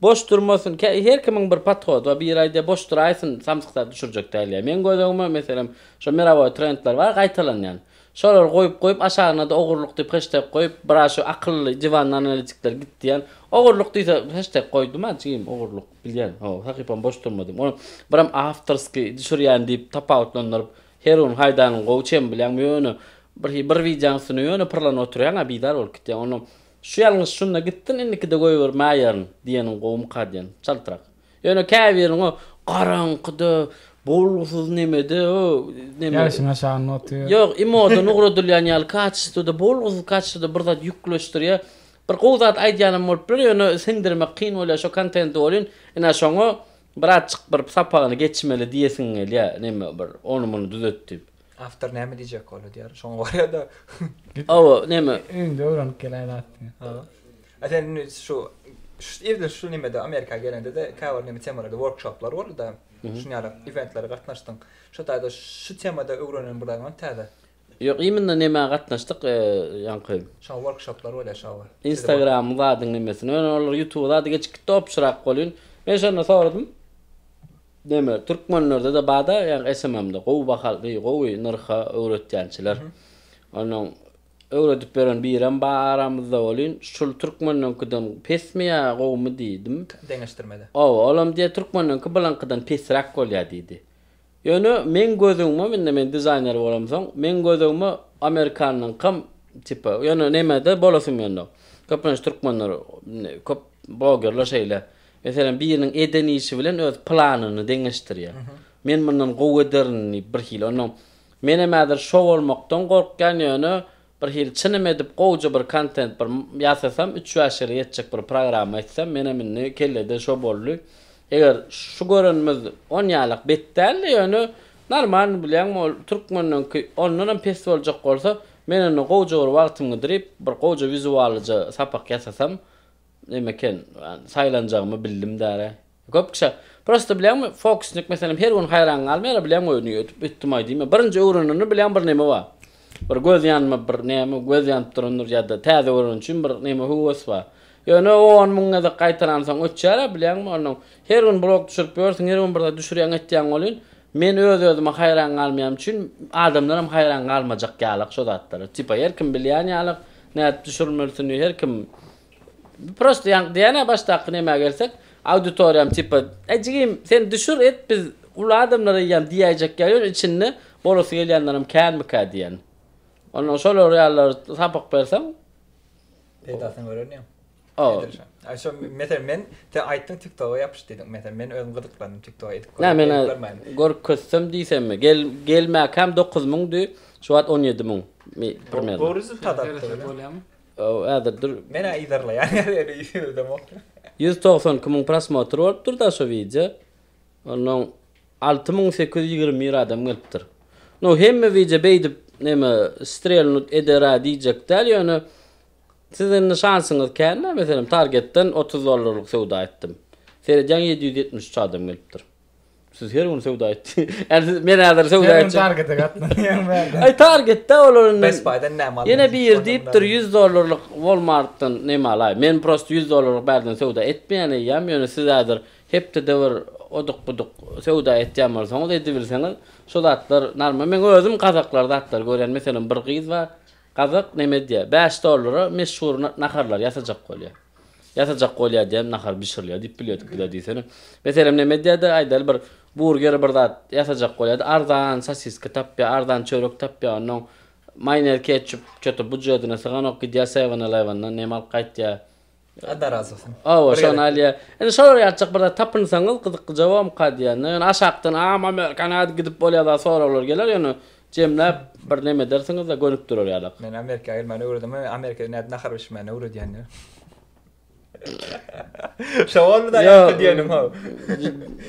boş durmasyn her kimiň bir podhody bar biri aýdýa boş duraýsyn samsyk zat düşürjek dälýä. Meň gözegime meselem şo mirawoý trendler bar gaýtalanýan. Şolary goýup goýup aşagynada ogurlyk diýip heşteg goýup biraz şu akylly diwanly analitikler git diýen ogurlyk diýse heşteg goýduma jigim ogurlyk bilýän ho sahypam boş durmadym ony biram awtorskiý düşürýän diýip tapawutlandyryp her gün haýdanyň gowy çem bilýäňmi ýöne birhi bir wideoň üstüne ýöne pyrlanyp oturýaňa bizar bolup gitýän onda şu ýalňyş şunda gitsin indikide goýbermäýerin diýeniň gowumyka diýen çaltrak. Ýöne käbiriň o garaňkyda, bolgusyz nemede, o neme. Ýagşyň aşagynda otyr. Ýok, imodan ugradylýan ýaly kaçestwada, bolgusyz kaçestwada bir zat ýükleşdirýär. Bir gowy zat aýdýanam bolup biler, ýöne siňdirmek kyn bolýar şo kontenti welin, ine şoňa birazjyk bir sapagyny geçmeli diýesiň gelýär, neme bir, ony-muny düzet diýip. Awtor näme diýjek ol edýär. Şoňa görä-de. Hawa, näme? Öňde öwrenip gelen zat. Hawa. A sen indi şu irde şu nimede Amerika gelende-de käbir neme temalarda workshoplar boldy-da. Şuny ýaly eventlere gatnaşdyň. Şu taýda şu temada öwrenen bir zadyň täze? Ýok, imенно nämä gatnaşdyk, ýaňky. Şoňa workshoplar bolýar şoňa. Instagram zadyň nimesine. Ýöne olar ýutuba zady geçip gitdi, obşyrak bolýun. Men şonda soradym. Neme türkmenlerdede bada ýa SMMde gowy baha deý gowy nyrha öwretýänçiler. Onuň öwredip beren birem ba aramyzda welin şul türkmeniňkiden pesmi ýa gowumy diýdim. Deňeşdirmede. Oba olam diýe türkmeniňki bulyňkydan pesräk bolýa diýdi. Ýöne meň gözügmem indi men dizaýner bolamsoň meň gözügme amerikanyňkam tipa ýöne nemede bolasym gelmedi. Köplenç türkmenler köp blogerler şeýle. Meselem, biriniň eden işi bilen öz planyny deňeşdirýär. Men mundan gowy ederin diýip birhili. Onnoň menem häzir şo bolmakdan gorkýan, ýöne birhili çynym edip gowja bir kontent bir ýasasam, üç-bäş ýere ýetjek bir programma etsem, menem indi kellede şo boldy. Eger şu görenimiz on ýalak bet däldi, ýöne normalny bilýäňmi, ol türkmeniňki ondanam pes boljak bolsa, men onda gowja bir wagtym gidirip, bir gowja wizuallyja sapak ýasasam, Näme eken, saýlanjagymy bildim däl-ä. Köp kişä, prosta bilýäňmi, fokusnik meselem her gün haýran galmaýar-a, bilýän we öýüni öýdüp ötdümaý diýme. Birinji öwrenende bilýän bir näme bar. Bir göz ýanma bir näme, göz ýanyp durandyr ýa-da täze öwreniji üçin bir näme höwes bar. Ýöne o on müň gezek gaýtalansoň öçýär-ä, bilýäňmi, onnoň her gün blog düşürip ýörsüň, her gün bir zat düşürýäň etýäň welin, men öz-özüme haýran galmaýan üçin adamlaram haýran galmajak ýalyk şo zatlara. Tipa her kim bilýän ýalyk nädip düşürilmelisini, her kim Prosto ýaňky diýýän-ä başdaky nemä gelsek, auditoriýam tipa, Äý jigim, sen düşür et, biz uly adamlar eýýäm diýäýjek ýaly, ýöne içinde bolasy gelýänlerem känmikä diýen. Onsoň şolar ýalylara sapak berseň, Peýdasyny gören ýaň. O. Edilşaň. Aý şo meselen men sen aýtdyň TikToga ýapyş diýdiň. Meselen men özüm gyzyklandym TikToga edip Nä görmek, edip görmäýin. meni görkezsem diýsemmi? Gel gelmäkäm dokuz müňdi, şu wagt on ýedi müň. Mi primýerno. Gowy rezultat atdy Seresek bile. bolýamy? Ýow häzir dur. Menä yzarlaýan ýaly ýüzemok. Ýüz togsan iki müň prosmotr bolupdyr da şo wideo. Onnoň alty müň sekiz ýüz ýigrimi bir adam gelipdir. No hemme wideo beýdip neme strelnut edera diýjek däl ýöne siz indi şansyňyz kän-ä meselem targetden otuz dollarlyk söwda etdim. Seredýäň ýedi ýüz ýetmiş üç adam gelipdir. Siz her gün söwda et. Ýa siz men häzir söwda etjek. Sen targete gatnaýaň bäri. Aý targetde olar indi. Best Buy-dan näme alýan? Ýene bir diýipdir 100 dollarlyk Walmart-dan näme alaý. Men prosta 100 dollarlyk bärden söwda etmeýän eýýäm, ýöne siz häzir hepdede bir oduk-buduk söwda etýän bolsaňyz edibilseňiz şo zatlar normal. Men özüm gazaklar zatlar görýän. Meselem bir gyz bar. Gazak näme edýär? Bäş dollara meşhur naharlar ýasajak bolýar. Ýatajak bolýar diýen nahar bişirilýär diýip bilýärdik bizler diýsene. Meselem näme edýärdi aýdaly bir burger bir zat ýatajak bolýardy arzan sosiska tapýar arzan çörek tapýar onnoň maýonez ketçup çöte bujetine syganok gidýär sewana laýwandan näme alyp gaýtýar Allah razy bolsun. Hawa şony alýar. Indi şolar ýatjak bir zat tapynsaňyz gyzyklyja bolmka diýýän-de ýöne aşakdan a amerikan a gidip bolýar zat soraglar geler ýöne Jemläp bir neme edersiňizde gönükdirer ýalak. Men Amerika gelmäni öwredem we Amerikada nädip nahar bişirmäni öwredýändir. Şo bolmyda ýa diýenim how.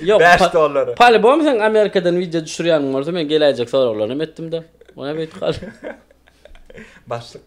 Ýok. Bäş dollary. Polibom sen Amerikadan wideo düşürýäniň bolsa men geläýjek soraglaryny hem etdimde. Ony hem öýtüp galdy. Başlyk.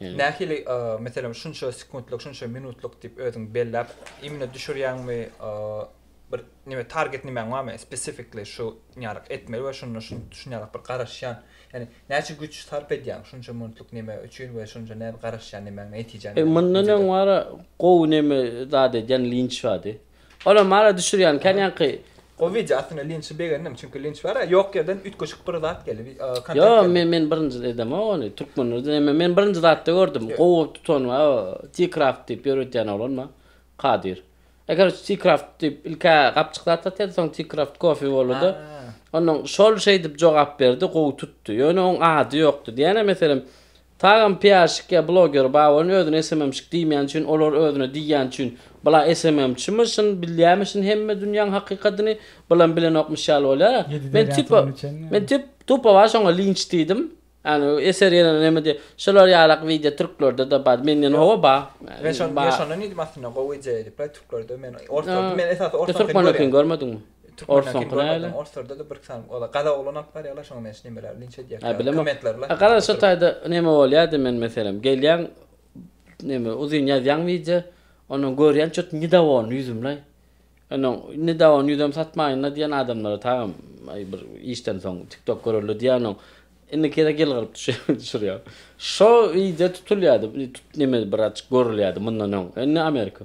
Nähili, meselem, şunça sekuntlyk, şunça minutlyk diýip özüň belläp, imine düşürýäňmi, bir neme target nimäň barmy, specifically şu ýaryk etmeli we şunda şun şun ýaryk bir garaşýan, ýagny näçe güýç sarp edýäň şunça minutlyk neme üçin we şunça näme garaşýan nemäň netijeň näme? Mundan öň bar gowy neme zat edýän linç bardy. Olam mala düşürýän kän ýaňky. Gowy wideo aslynda linçi begendim çünki linç bara ýok ýerden üýtgeşik bir zat geldi wi kontent geldi. Ýo men men birinji edemok ony türkmenlerde emme men birinji zatda gördüm gowy tutan we o t-craft diýip ýöretýän oglan bar kadyr e karoç t-craft diýip ilkä gapjyk zat satýardy soň t-craft coffee bolady ondan şol şeýdip jogap berdi gowy tutdy ýöne oň ady ýokdy diýýän e meselem Tagan piarşik ýa bloger bar welin özüne SMMşik diýmýän üçin olar özüne diýýän üçin bula SMMçimi şin bilýämi şin hemme dünýäň hakykatyny bilen bilenokmyş ýaly bolýara men tipa men tip tupa bar şoňa linç diýdim ýani eser ýene neme diýe şolar ýalak wideo türklerdede bar menden howa bar men şonda men şonda diýdim aslynda gowy idea diýip türklerde men orta men esasy orta türkmenokini görmediňmi. Türkmenlerki görmedim orslerdede bir sany ola gazak oglan alyp barýarlar şoňa men şu nemeleri linç edýärkä kommentlerle. A garaz şo taýda neme bolýady men meselem gelýän neme uzyn ýazýaň wideo ondan görýän çüt nidawony ýüzümlaý ondan nidawony ýüzem satmaýynda diýen adamlara tagam aý bir işden soň tiktok göreli diýýän oň indikide gylgyryp düşürýän şo wideo tutulýady neme bir açyk görülýady mundan öň indi amerika.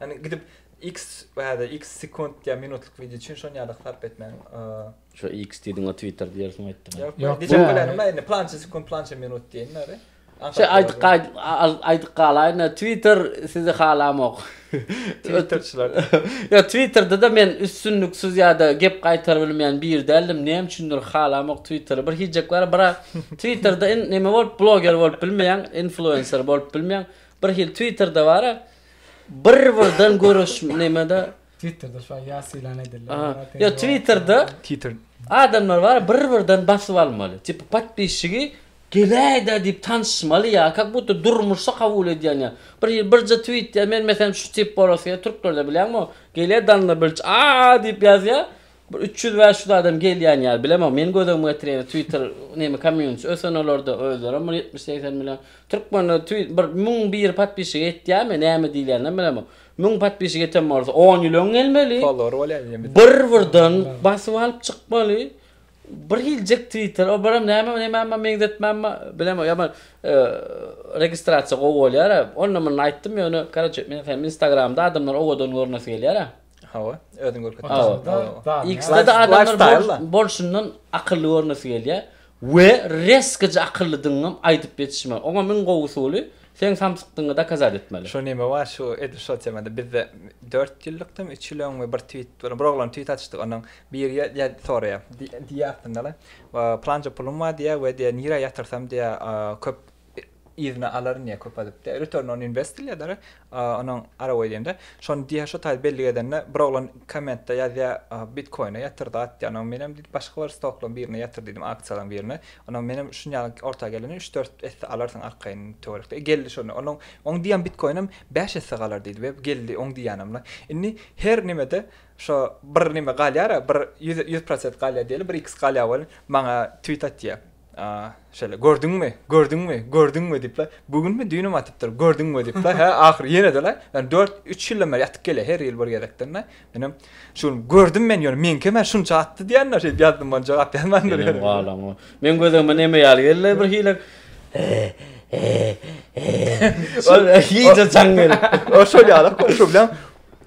Ýagny gidip X bäde X sekunt ýa minutlyk wideo üçin şon ýaly sarp etmäň. Şu X diýdiň o Twitter diýersiň aýtdyň. Ýok ýok diýjek bolanymda aýdym plança sekunt plança minut diýen näre. Şeý aýdyk aýdyk galaýyn Twitter sizi halamok. Twitterçiler. Ýok Twitterdede men üstünliksiz ýada gep gaýtarybilmeýän bir däldim näme üçindir halamok Twitteri bir hiýjek bar bira Twitterde in näme bolup bloger bolup bilmeýäň influencer bolup bilmeýäň bir hil Twitterde bara bir-birden görüş nämede Twitterda şuwagt ýas ýylan edildi. Aha. Olara teňňe Ýa Twitterda wagtda- Titr. adamlar bar bir-birden basyp almaly. Tipi podpisçigi geläýdä diýip tanyşmaly ýa kak budda durmuşda kabul edýän ýa. Bir ýyl birje twit ýa men meselem şu tip bolası gel türklerde bilýäňmi o gelýä danda bilç aa diýip ýazýa Bir üç ýüz bäş ýüz adam gelýän ýaly bilemok meniň göz öňüme getirýän twitter neme komýunitisi ösen olarda özlerem bir ýetmiş segsen million türkmenler twi bir müň bir podpisçige ýetýärmi näme diýilýäninem bilemok müň podpisçige ýeten bolsa on ýyl öň gelmeli Follower bolýar diýýän bir bir birden basyp alyp çykmaly bir hiljik twitter o birem nämem nämeme meňzetmänme bilemok ýa bir registrasiýa gowy bolýara onda munda aýtdym ýöne karoçe men sen instagramda adamlar owadan görnesi gelýärä. Hawa, özüň görkezip dursaňda. X-de adamlar bolşundan akylly görnesi gelýär we reskaja akyllydygyňy hem aýdyp ýetişmeli. Oňam iň gowy usuly, seň samsykdygyňy dokazat etmeli. Şu neme bar, şu edil şol temada bizde dört ýyllykdym, üç ýyl öň we bir tweet, bir oglan tweet atyşdy, ondan biri ýa-da soraýar, diýýär aslynda-da, Pylança pulum bar diýýär we diýýär, nirä ýatyrsam diýýär, köp yzyna alaryn diýýär köp adyp diýýär return on invest diýilýär däli onuň arawa diýende şony diýýär şo taýda bellik edende bir oglan kommentde ýazýar bitkoine ýatyr zat diýýär onuň menem diýip başga bir stoklaryň birine ýatyr diýdim aksiýalaryň birine onuň menem şuny ýaly orta gelende üç dört esse alarsyň arkaýyn töwerekde geldi şony onuň oň diýýän bitkoinem bäş esse galar diýdi we geldi oň diýýänemle indi her nimede şo bir nime galýara bir ýüz ýüz prosent galýar diýeli bir iks galýar welin maňa twit atýar. A, şeýle, gördüňmi, gördüňmi, gördüňmi diýip-le, bu günmi, düýnümi atypdyr, gördüňmi diýip-le, hä, ahyry ýene-de-le, ýöne dört, üç ýyldan bäri ýatyp gelýär, her ýyl bir gezekden-le, menem, şu gün gördüm men, ýöne meňkem-ä şunça atdy diýen-de, şeýdip ýazdym, muňa jogap ýazmandyr. Senem galan goý. Meň gözegime neme ýaly geldi-le, birhili, he-he-he-he, şeýle, iýje jaň gelip. Ol şol ýaly-a, goňşy bilen,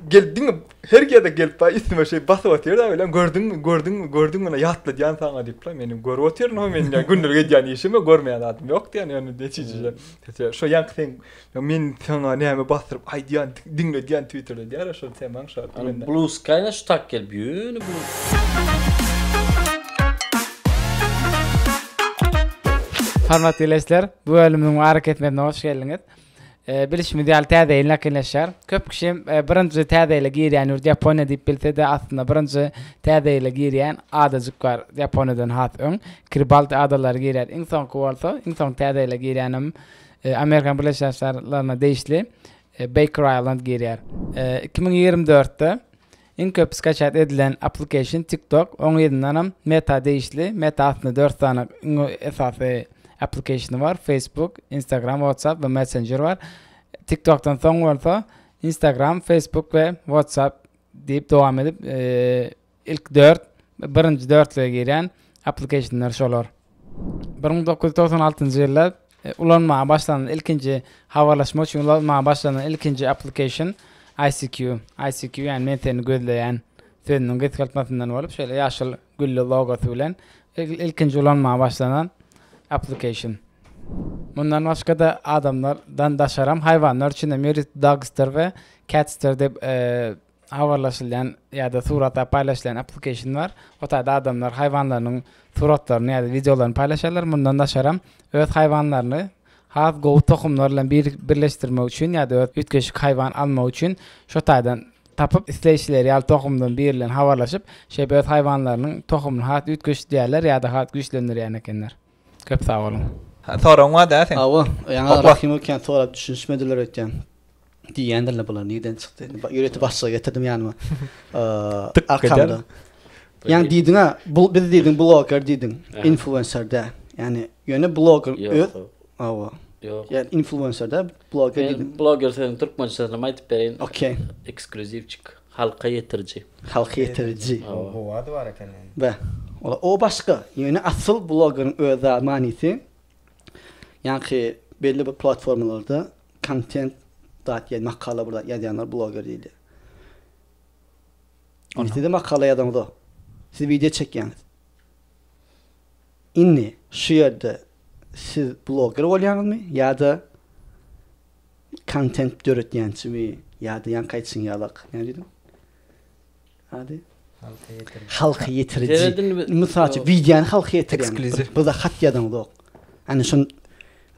Gel diňe her ýerde gelip baý üstüme şeý basyp otyr da bilen gördüňmi gördüňmi gördüňmi ýa ýatladýan saňa diýip la meni görüp otyr no men ýa gündelik edýän işimi görmeýän zadym ýok diýen ýöne netijede sesi şo ýaňky seň men saňa näme basdyryp aýdýan diňledýän twitterde diýýär şo temaň şo diýende. Blue sky na şu tak gelip ýöne blue. Hormatly Leşler, bu bölümiň we Ara kesmesine hoş geldiňiz. Bilişimiz ýaly Täze ýyl ýakynlaşýar. Köp kişi birinji Täze ýyla girýän ýurt Ýaponiýa diýip bilse-de, aslynda birinji Täze ýyla girýän adajyk bar Ýaponiýadan has öň. Kiribati adalary girýär. Iň soňky bolsa, iň soňky Täze ýyla girýänem Amerikanyň Birleşen Şaşarlaryna degişli Beýker Aýland girýär. Iki müň ýigrimi dörtde Iň köp skaçat edilen application TikTok, oň yzyndanam Meta degişli, Meta aslynda dört sany iň esasy application bar, Facebook, Instagram, WhatsApp we Messenger bar. TikTokdan soň bolsa Instagram, Facebook we WhatsApp diýip dowam edip ilk dört birinji dörtlüge girýän applicationlar şolar. Bir müň dokuz ýüz togsan altynjy ýylda e, ulanmaga başlanan ilkinji habarlaşmak üçin ulanmaga başlanan ilkinji application ICQ. ICQ yani men seni gözleýän sözüniň gysgaltmasyndan bolup şöyle ýaşyl gülli logosy bilen ilkinji ulanmaga başlanan application. Mundan başga da adamlardan daşaram haýwanlar üçin hem ýörite dogster we catster diýip e, habarlaşylýan ýa-da surata paýlaşylýan applikeşnlar, o taýda adamlar haýwanlarynyň suratlaryny ýa-da wideolaryny paýlaşýarlar, mundan daşaram öz haýwanlaryny has gowy tohumlar bilen birleşdirmek üçin ýa-da öz üýtgeşik haýwan almak üçin şo taýdan tapyp isleýşileri ýaly tohumdan biri bilen habarlaşyp şeýdip öz haýwanlarynyň tohumyny has üýtgeşdirýärler ýa-da has güýçlendirýän ekenler. Köp sag boluň. Soragyň bar dä seň. Hawa, ýaňy Okla. Kim ekeni sorap düşünişmediler öýtýän. Diýýändiler bular nirden çykdy indi. Ýörite başlygy getirdim ýanyma. Tyk Arkamda. eder. Ýaňy diýdiňä bu biz diýdiň bloger diýdiň. Aha. Influencer dä. Ýani ýöne bloger Ýok. öz hawa. Ýok. Ýa influencer dä bloger Men diýdim. bloger sözüni türkmençesinem aýdyp bereýin. Okey. Eksklýuziwçik. Halka ýetiriji. Halka ýetiriji. Gowy ady bar eken ony. Be. Ola o başga. Ýöne asyl blogeryň öz manysy ýanky belli bir platformalarda kontent zat ýa makala bir zat ýazýanlar bloger diýilýär. Indi siz-de makala ýazaňyz-a. Siz wideo çekýäňiz. Indi. Şu ýerde siz bloger bolýaňyzmy ýa-da kontent döretýänçimi ýa-da ýaňky aýtşyň ýalak näme diýdiň ady? Halka ýetiriji. Halka ýetiriji. Mysal üçin wideony halka ýetirýän. Bize hat ýazaňzok. Ýani şun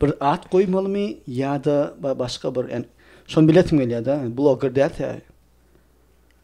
bir at goýmalymy ýa-da başga bir ýani şony bilesiň gelýär-de bloger dälse.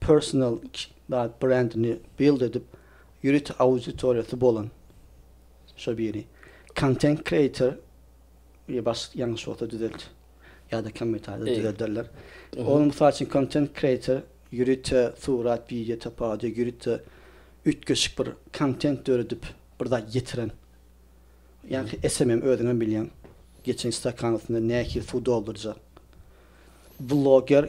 Personal zat brendini build edip ýörite auditoriýasy bolan şo biri. Content creator ýa baş ýalňyş bolsa düzelt ýa-da kommentarýada düzelderler. Ol mysal üçin content creator ýörite surat wideo tapawudy ýörite üýtgeşik bir content döredip bir zat ýetiren. Ýaňky SMM özüňem bilýäň geçen stakan üstünde nähili suw doldurjak. Vloger.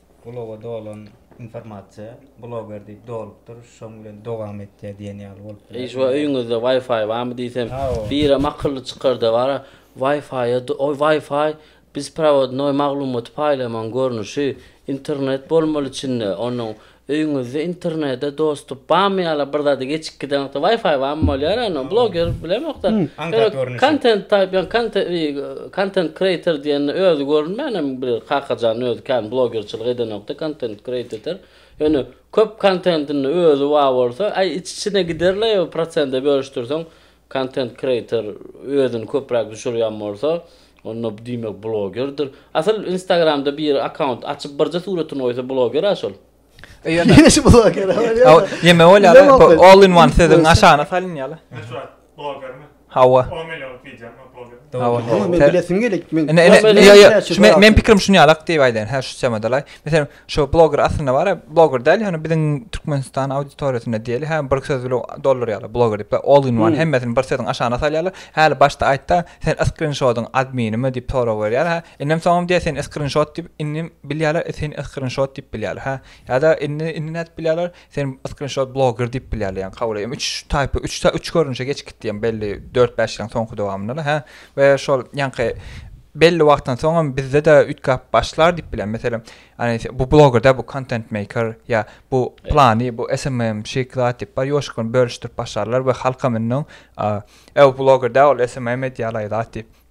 Bloga dolan informasiýa bloger diýip dolupdyr, şoň bilen dowam etýär diýen ýaly bolup biler. Eýjwa öýüňizde Wi-Fi barmy diýsem, birem akylly çykarda bar, Wi-Fi-a oý Wi-Fi biz prowodnoý maglumaty paýlamaň görnüşi, internet bolmaly içinde, onuň öýüňizde internede dostup barmy ýa-la bir zady geçip giden wagty Wi-Fi barmy bolýar, onuň bloger bilemokda, kontent taýp ýa kontent. Content creator diýende özi görünmänem bir kakajan özi kän blogerçilik edenokda content createter ýöne köp kontentinde özi bar bolsa aý iç içine giderle ýa prosende bölüşdirseň content creator özini köpräk düşürýän bolsa onda diýmek blogerdir asyl instagramda biri akaunt açyp birje suratyn goýsa blogera şol. Yine şu blogger ama ne Aw, var? Ýeme bolýar. Bilemok ha, bu ben. All in one sözüň Neyse. aşagyna salynýar. Meşhur blogger mi? Hawa. 10 milyon video mi blogger? Hawa. Ama men Te- bilesim gelip men. Ene, ene, Öyle ýa, ýa, ýa, şu men, men pikirim şuny alak diýip aýdaýyn. Hä, şu çemadalay. Meselem, şu blogger aslynda bar, blogger däl, ýöne biziň Türkmenistan auditoriýasynda diýeli, hä, bir söz bilen doldurýarlar blogger diýip, all in one, Hmm. hemmesini bir sözüň aşagyna salýarlar. Häli başda aýtda, sen screenshot-yň adminimi diýip sorag berýär, hä, Inim soňam diýýär seni skrinşot diýip inim bilýärler e seni skrinşot diýip bilýärler hä ýa-da indi indi nädip bilýärler seni skrinşot bloger diýip bilýärler ýaňy kabul edýän üç taýpa üç ta üç görnüşe geçip gitdi ýaňy belli dört bäş ýylyň soňky dowamynda-da hä we şol ýaňky belli wagtdan soňam bizde-de üýtgäp başlar diýip bilýän meselem ýany bu bloger däl bu kontent meýker ýa bu plany bu SMM-şik zat diýip bar ýoşkun bölüşdirip başlarlar we halkam indi oň e bu bloger däl ol SMM edýär-laý zat diýip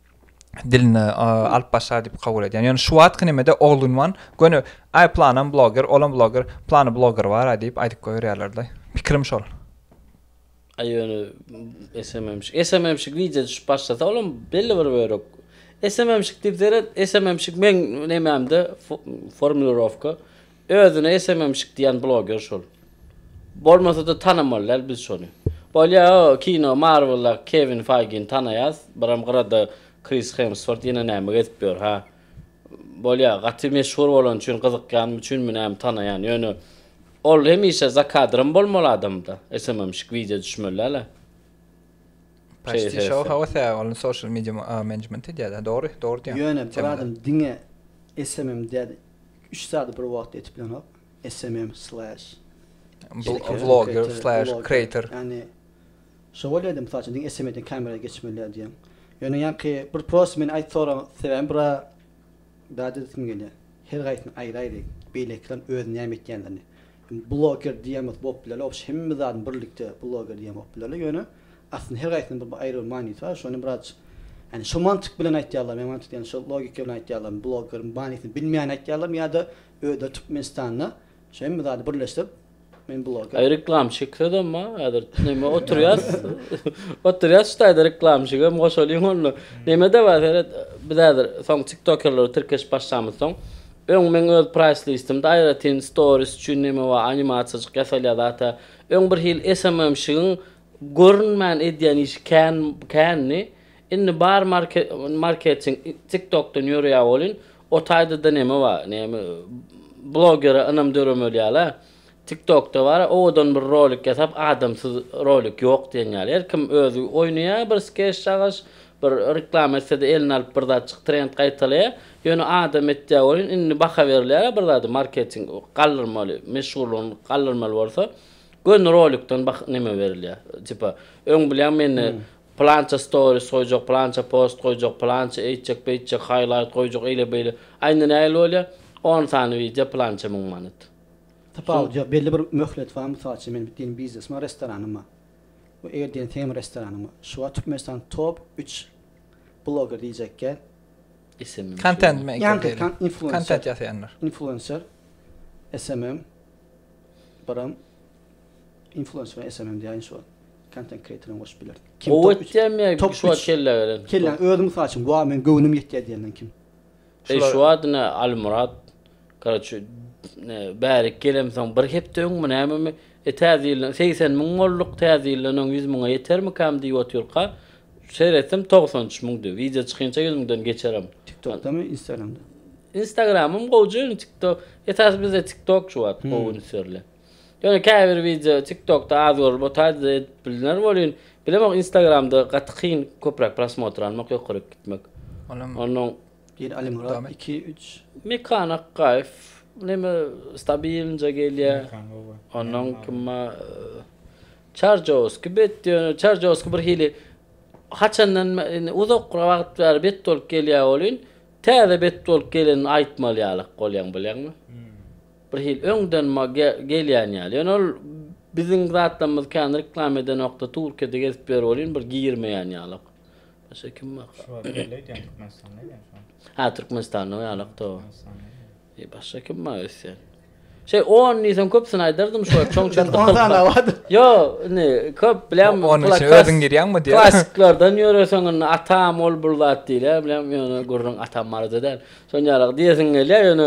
diline alyp başlar diýip kabul edýän. Ýöne şu wagtky nemede Olunwan göni ay planam bloger, olam bloger, plany bloger bar ay diýip aýdyp goýberýärler-de. Pikirim şol. Ay ýöne SMMşik, SMMşik wideo düşüp başlasa olam belli bir bölek SMMşik diýip seret, SMMşik meň nemämde formulirowka Özüne esememşik diýen bloger şol. Bolmasada tanamaly däl biz şony. Bolýa o kino marveldaky kevin faygini tanaýas biram gyrada kris hemswort ýene näme gezip ýör ha bolýa gaty meşhur bolany üçin gyzykýanym üçinmi näme tanaýan ýöne ol hemişe za kadrem bolmaly adamda esememşik wideo düşmeli däl a. Paçti şou hawa säh ol social media management edýär dogry dogry diýýäň. Ýöne bir adam diňe esemem diýýär. Üç zady bir wagt edip bilenok smm slash blogger slash creator yani şo bolýady mysal üçin diňe smm den kamera geçmeliýa diýen ýöne ýaňky bir prosta meni aýt soraň sebäbim bura bärde diýesim gelýär her gaýsyny aýry aýry beýlekiler öz näme etýänlerini Bloger diýemok bop bileli obş hemme zadyny birlikde bloger diýen bop bileli ýöne aslynda her gaýsynyň bir aýry bir manysy bar şony biraz ýani şo mantyk bilen aýtýarlar men mantyk diýen şo logika bilen aýtýarlarmy blogeriň manysyny bilmän aýtýarlarmy ýada özleri türkmenistanda şo hemme zady birleşdirip men bloger. Aý reklamşik sözem bar häzir neme oturýas oturýas şu taýda reklamşik hem goşalyň onda neme de bar seret biz häzir soň tiktokerlere tirkeşip başlamyzsoň Öň meň öz praýslistimde aýratyn storis üçin neme bar animasiýajyk ýasalýar zat-a. Öň bir hil SMM-şigiň görünmän edýän işi kän kändi. Indi bar marketing TikTok-dan ýöreýär welin o taýda-da neme bar. Näme blogere ynam döremeli ýaly-a. Tiktokda bara owadan bir rolik ýasap adamsyz rolik ýok diýen ýaly her kim özi oýnaýa bir skeş çagaş bir reklama etsede eline alyp bir zatjyk trend gaýtalaýa ýöne adam etýä welin indi baha berilýara bir zady marketing galdyrmaly meşhurlygyny galdyrmaly bolsa göni rolikden bah neme berilýa tipa öň bilýäň mende plança storis goýjak plança post goýjak plança eýtjek beýtjek haýlaýt goýjak eýle beýle aýnda nähili bolýa on sany wideo plança müň manat Tapawut ýok. Belli bir möhlet bar. Mysal üçin, meniň diýen biznesim bar, restoranym bar. We eger diýen seniň restoranym bar. Şu wagt Türkmenistanyň top üç bloger diýjekkä. SMM Content maker diýeli. Ýaňky kan influencer. Content ýasaýanlar. Influencer, SMM, biram influencer bilen SMM diýäýin şu wagt. Content creator hem goşup bilerin. Gowy etýärmi ýa şu wagt kellä gelen? Kellä, özi mysal üçin, wah, meň göwnüm ýetýär diýenden kim? Eşwat-ne Almyrat, Karaço, bärik gelemsoň bir hepde öňmi, nämemi, e, Täze ýyldan segsen müň bolduk, Täze ýyldan öň ýüz müňe ýetermikäm diýip otyrka, seretdim, togsan üç müňdi. Wideo çykynça ýüz müňden geçerem. TikTokdamy, Instagramda? Instagramym gowja, ýöne TikTok, esasy bizde TikTok şu wagt gowy üns berlen. Ýöne käbir wideo tiktokda az görülip otady edip bilner welin bilemok instagramda gaty kyn köpräk prosmotr almak ýokaryk gitmek ondan Bir Alimyrat iki üç. Mekan Akgaýew neme stabilnje gelýä ondan kim bar Çarjowski bet ýöne Çarjowski birhili haçandan indi uzak wagt bäri bet bolup gelýä welin täze bet bolup gelenini aýtmaly ýalak bolýaň bilýäňmi. Bir hili öňden ma gelýän ýaly. Ýöne ol biziň zatlarymyzy kän reklam edenokda Turkiýada gezip ýör welin bir girmeýän ýalak. Başga kim bar? Şu wagt belli edýän Türkmenistanda ýa şu wagt. Hä Türkmenistanda o ýalak to. E başga kim bar öýtseň. Şey on diýseň köpsini aýdardym şu çon çon. On sany awat. Yo, ne, köp bilen on üçe özüň girýäňmi diýýär. Klassiklerden ýöreseň indi atam ol bir zat diýýär bilen ýöne gürrüň atam barada däl. Şonýalak diýesiň gelýär ýöne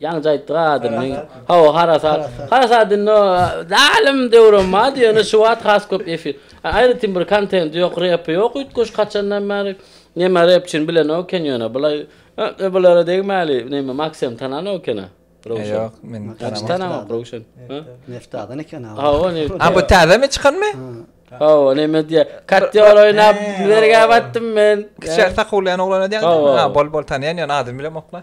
Ýaňja aýtdyk adyny. Hawa, harasat. Harasat indi o zalym döwrem bardy, ýöne şu wagt has köp efir. Aýratyn bir kontendi ýok, repi ýok üýtgeşik haçandan bäri. Neme repçini bilenok eken ýöne bulaý ä-e bulara degmäli. Neme Maksem tananok eken-ä. Röwşen. Ýok, men Hiç tanamok Röwşen. Hä? Neftadan eken a. Hawa, nefta. A bu täzemi çykanmy? Hawa, neme diýýär? Kattýor oýnap bergä batdym men. Kiçi sakulýan oglan edýän. Hawa. Bol-bol tanýan ýöne adyny bilemok-la.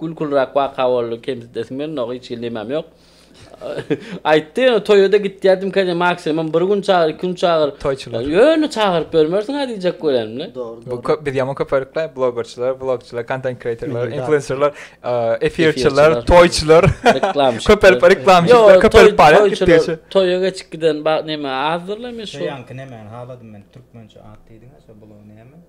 Gülküliräk waka boldy kemsidesim gelmedi oňa hiç hili nemem ýok. Aýtdy ýöne toýada gitýädim kän maksimum bir gün çagyr iki gün çagyr. Toýçylar. Ýöne çagyryp bermersiň ha diýjek bolanymda. Dogry dogry. Bu biz ýaman köpelipkle blogerçiler, vlogçylar, kontent kreatorlar, influencerlar, efirçiler, toýçylar, reklamçylar, köpelip reklamçylar köpelip barýar gitdigiçe. Toýa geçip giden neme azdyrla men şo. Şo ýaňky nemäni haladym men türkmençe at diýdiňä şo blogy näme?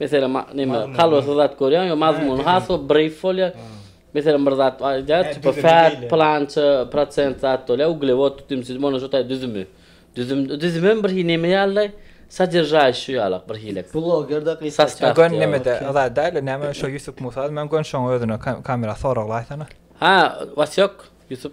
Meselem, näme, kalbasy zat görýäň, ýa mazmuny has bir brief bolýar. Meselem, bir zat aýdýar, tipa fat, pylança prosent zat bolýar, uglewod, dümsüz, mona şu taý düzümi. Düzüm, düzüm hem bir hili näme ýalylaý, sodержающий ýalak bir hili. Blogerde gysgaça. Sastaw. Gön nämede, zat däl-de, näme şo Ýusup Musa, men gön şoň özüne kamera soraglaýsana. Ha, Wasýok, Ýusup.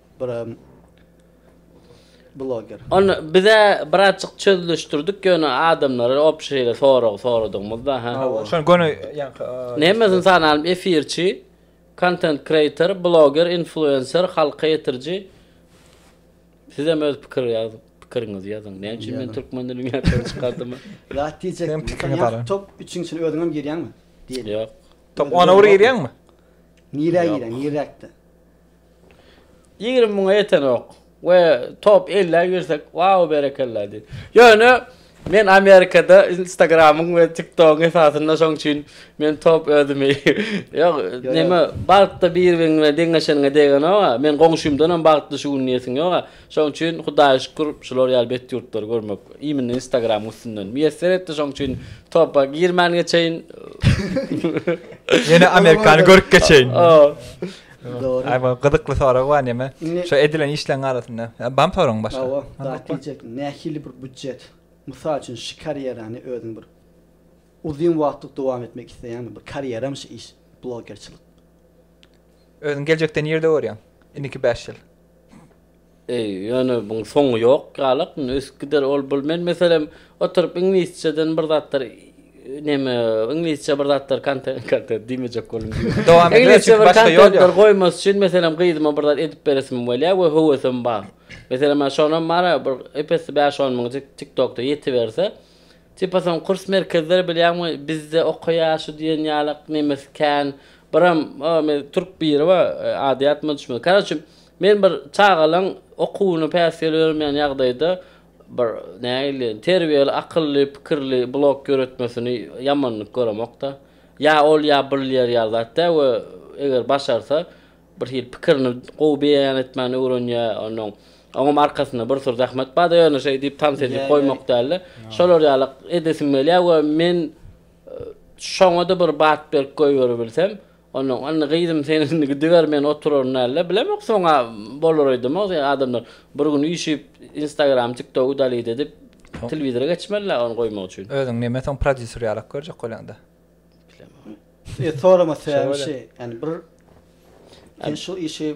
Buram bloger. Ony bize birazjyk çözlüşdirdik ýöne adamlara op şeýle sorag soradygymyzda ha. Şony göni ýaňky. Neme ynsan alym efirçi, content creator, bloger, influencer, halka ýetiriji. Sizem öz pikir ýaz pikiriňizi ýazyň. Näme üçin men türkmen dilini ýatdan çykardym? Zat diýjekdim. Sen ýa top üçiň içine özüňem girýäňmi? Diýeli. Ýok. Top ona bir girýäňmi? Nirä girýäň? Niräkde? Ýigrimi müňe ýetenok we top elliä girsek wau berekella diýip. Ýöne men Amerikada Instagramyň we TikTogyň esasynda şoň üçin men top özümi ýok näme bagtda bir biriňe deňeşeniňe degenoga men goňşymdanam bagtly şu gün diýesiň ýoga şoň üçin Hudaýa şükür şular ýaly bet ýurtlary görmek imine Instagramyň üstünden miýesser etdi şoň üçin topa girmän geçeýin. Ýene Amerikany görüp geçeýin. Dogry. Ay bu gyzykly sorag bar neme? Şu edilen işleň arasynda. Bam soragyň başga. Awa, zat diýjek. Nähili bir budjet? Mysal üçin şu karýerany özüň bir uzyn wagtlyk dowam etmek isleýäňmi? Bir karýeram şu iş, blogerçilik. Özüň geljekde nirde görýäň? Indiki bäş ýyl. Eý, ýöne buň soňy ýok ýalak, indi ösüp gider ol bul. Men meselem oturyp iňlisçeden bir zatlar neme, iňlisçe bir zatlar kontent, kontent diýmejek boldum diýmek. Dowam edip ber, çünki başga ýol ýok. Goýmasy üçin meselem gyzyma bir zat edip beresim gelýär we höwesim bar. Meselem ýa şonam bar-a bir epesli bäş-on müňjik TikTokda ýetiberse, tipa soň kurs merkezler bilýäňmi bizde okaýar şu diýen ýalak nemesi kän. Biram, o men türk biri bar, ady ýatma düşmedi. Karoçi, Men bir çagalaň okuwyny päsgel bermeýän ýagdaýda bir nägile terbiýeli, akylly, pikirli blog ýöretmesini ýamanlyk göremok-da. Ýa ol ýa bilýär ýaly zat däl we eger başarsa birhili pikirini gowy beýan etmäni öwrenýär. Onnoň oňam arkasynda bir sürü zähmet bar-da ýöne şeý diýip tans edip goýmak däl-de. Şolar ýaly edesim gelýär we men şoňa-da bir bat berip goýberibilsem, Onnoň, Indi, gyzym, sen indi gidiber, men oturaryn dälde, bilemok, soň-a bolar öýdemok, diýýär. Adamlar bir gün üýşüp, Instagram, TikTok udalit edip, telewizora geçmeli-le ony goýmak üçin. Özüň näme, soň prodýuser ýalak görjek bolýaň-da. Bilemok. Sorama sebäbim şu, ýani bir, sen şu işi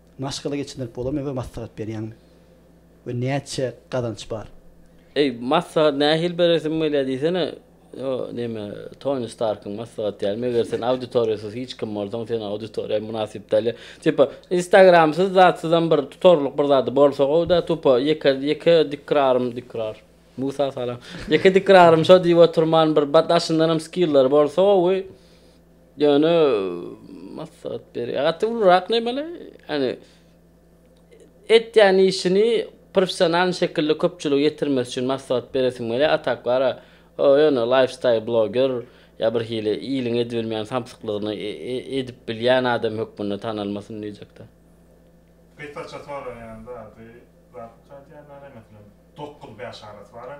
Maşgala geçindirip bolarmy we maslahat berýäňmi? We näçe gazanç bar? Eý, maslahat nähili beresiň bolýar diýsene, o neme, Toni Starkyň maslahaty ýaly, meger sen auditoriýasyz hiç kim bolsaň, sen auditoriýa mynasyp däl, tipa, instagramsyz zatsyzam bir tutarlyk bir zady bolsa gowy-da, tupa, ýeke, ýeke dikrarym, dikrar, Musa salam, ýeke dikrarym şo diýip oturman bir daşyndanam skillary bolsa gowy. Ýöne maslahat berýär. Gaty ulurak nemeli, ýani etýän işini professionalny şekilde köpçülige ýetirmesi üçin maslahat beresim gelýär, a tak bara o ýöne laýfstaýl bloger ýa birhili iliň edibilmeýän samsyklygyny edip bilýän adam hökmünde tanalmasyn diýjekdä. Gysgaça soraýan zady, zat uçar diýýän zada, meselem, dokuz bäş arasy bara.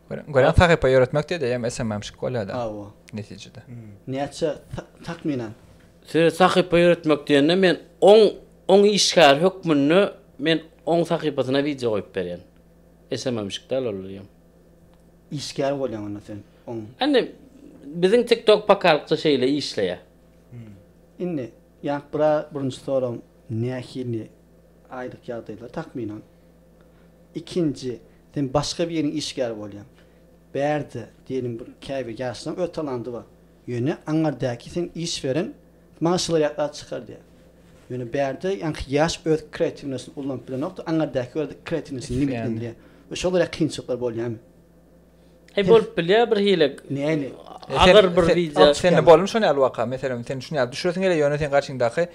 Görýän sahypa ýöretmek diýdi, eýýäm SMM-şik bolýar-da. Hawa. Netijede. Näçe takmynan? Size sahypa ýöretmek diýende men oň oň işgäri hökmünde men oň sahypasyna wideo goýup berýän. SMM-şik däl ol eýýäm. Işgär bolýaň onda sen oň. Indi biziň TikTok pakalykça şeýle işleýär. Indi ýa bra birinji soragym nähili aýlyk ýagdaýlar takmynan? Ikinji, sen başga biriniň işgäri bolýaň. Bärde, diýeliň, bir käbir ýaşlaryň öz talandy bar. Ýöne aňardäki seň iş beren maňa şylar ýatlar çykar diýýär. Ýöne bärde ýaňky ýaş öz kreatiwnosyny ulanyp bilenokda, aňardäki görä kreatiwnosyny limitlendirýär. Şolar ýaly kynçylyklar bolýarmy? He bolup bilýär bir hile. Näme? Agyr bir wideo. Sende bolmy şon ýaly waka? Meselem, sen şun ýaly düşüresin gelýär, ýöne sen garşyňdaky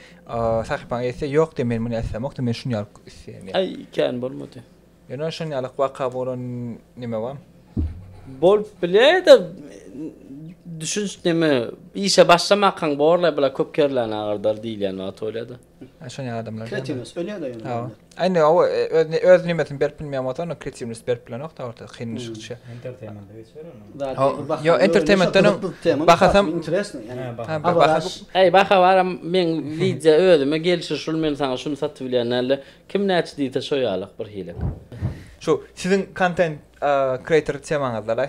sahypaň etse, ýok diýýär, men muny islämok-da, men şun ýaly isleýän diýýär. Aý, kän bolmady. Ýöne şon ýaly waka bolan neme bar? Bolup bilýär-de, düşünç neme, işe başlamakaň borlaý, bular köp kerleni agardar diýilýän wagt bolýar-da. Şony adamlar. Kreativist ölýär-de ýöne. Ha. Aýny o öz öz nimetini berip bilmeýän bolsa, onda kreativist berip bilenok da orta kyn düşüp düşýär. Entertainment geçer onu. Yo entertainmentden bahasam interesno ýani. Eý baha baram men wideo özüme gelşir şul men saňa şuny satyp bilýän dälde kim näçe diýse şo ýalyk birhili. Şu siziň kontent kreator temaňyzdalaý.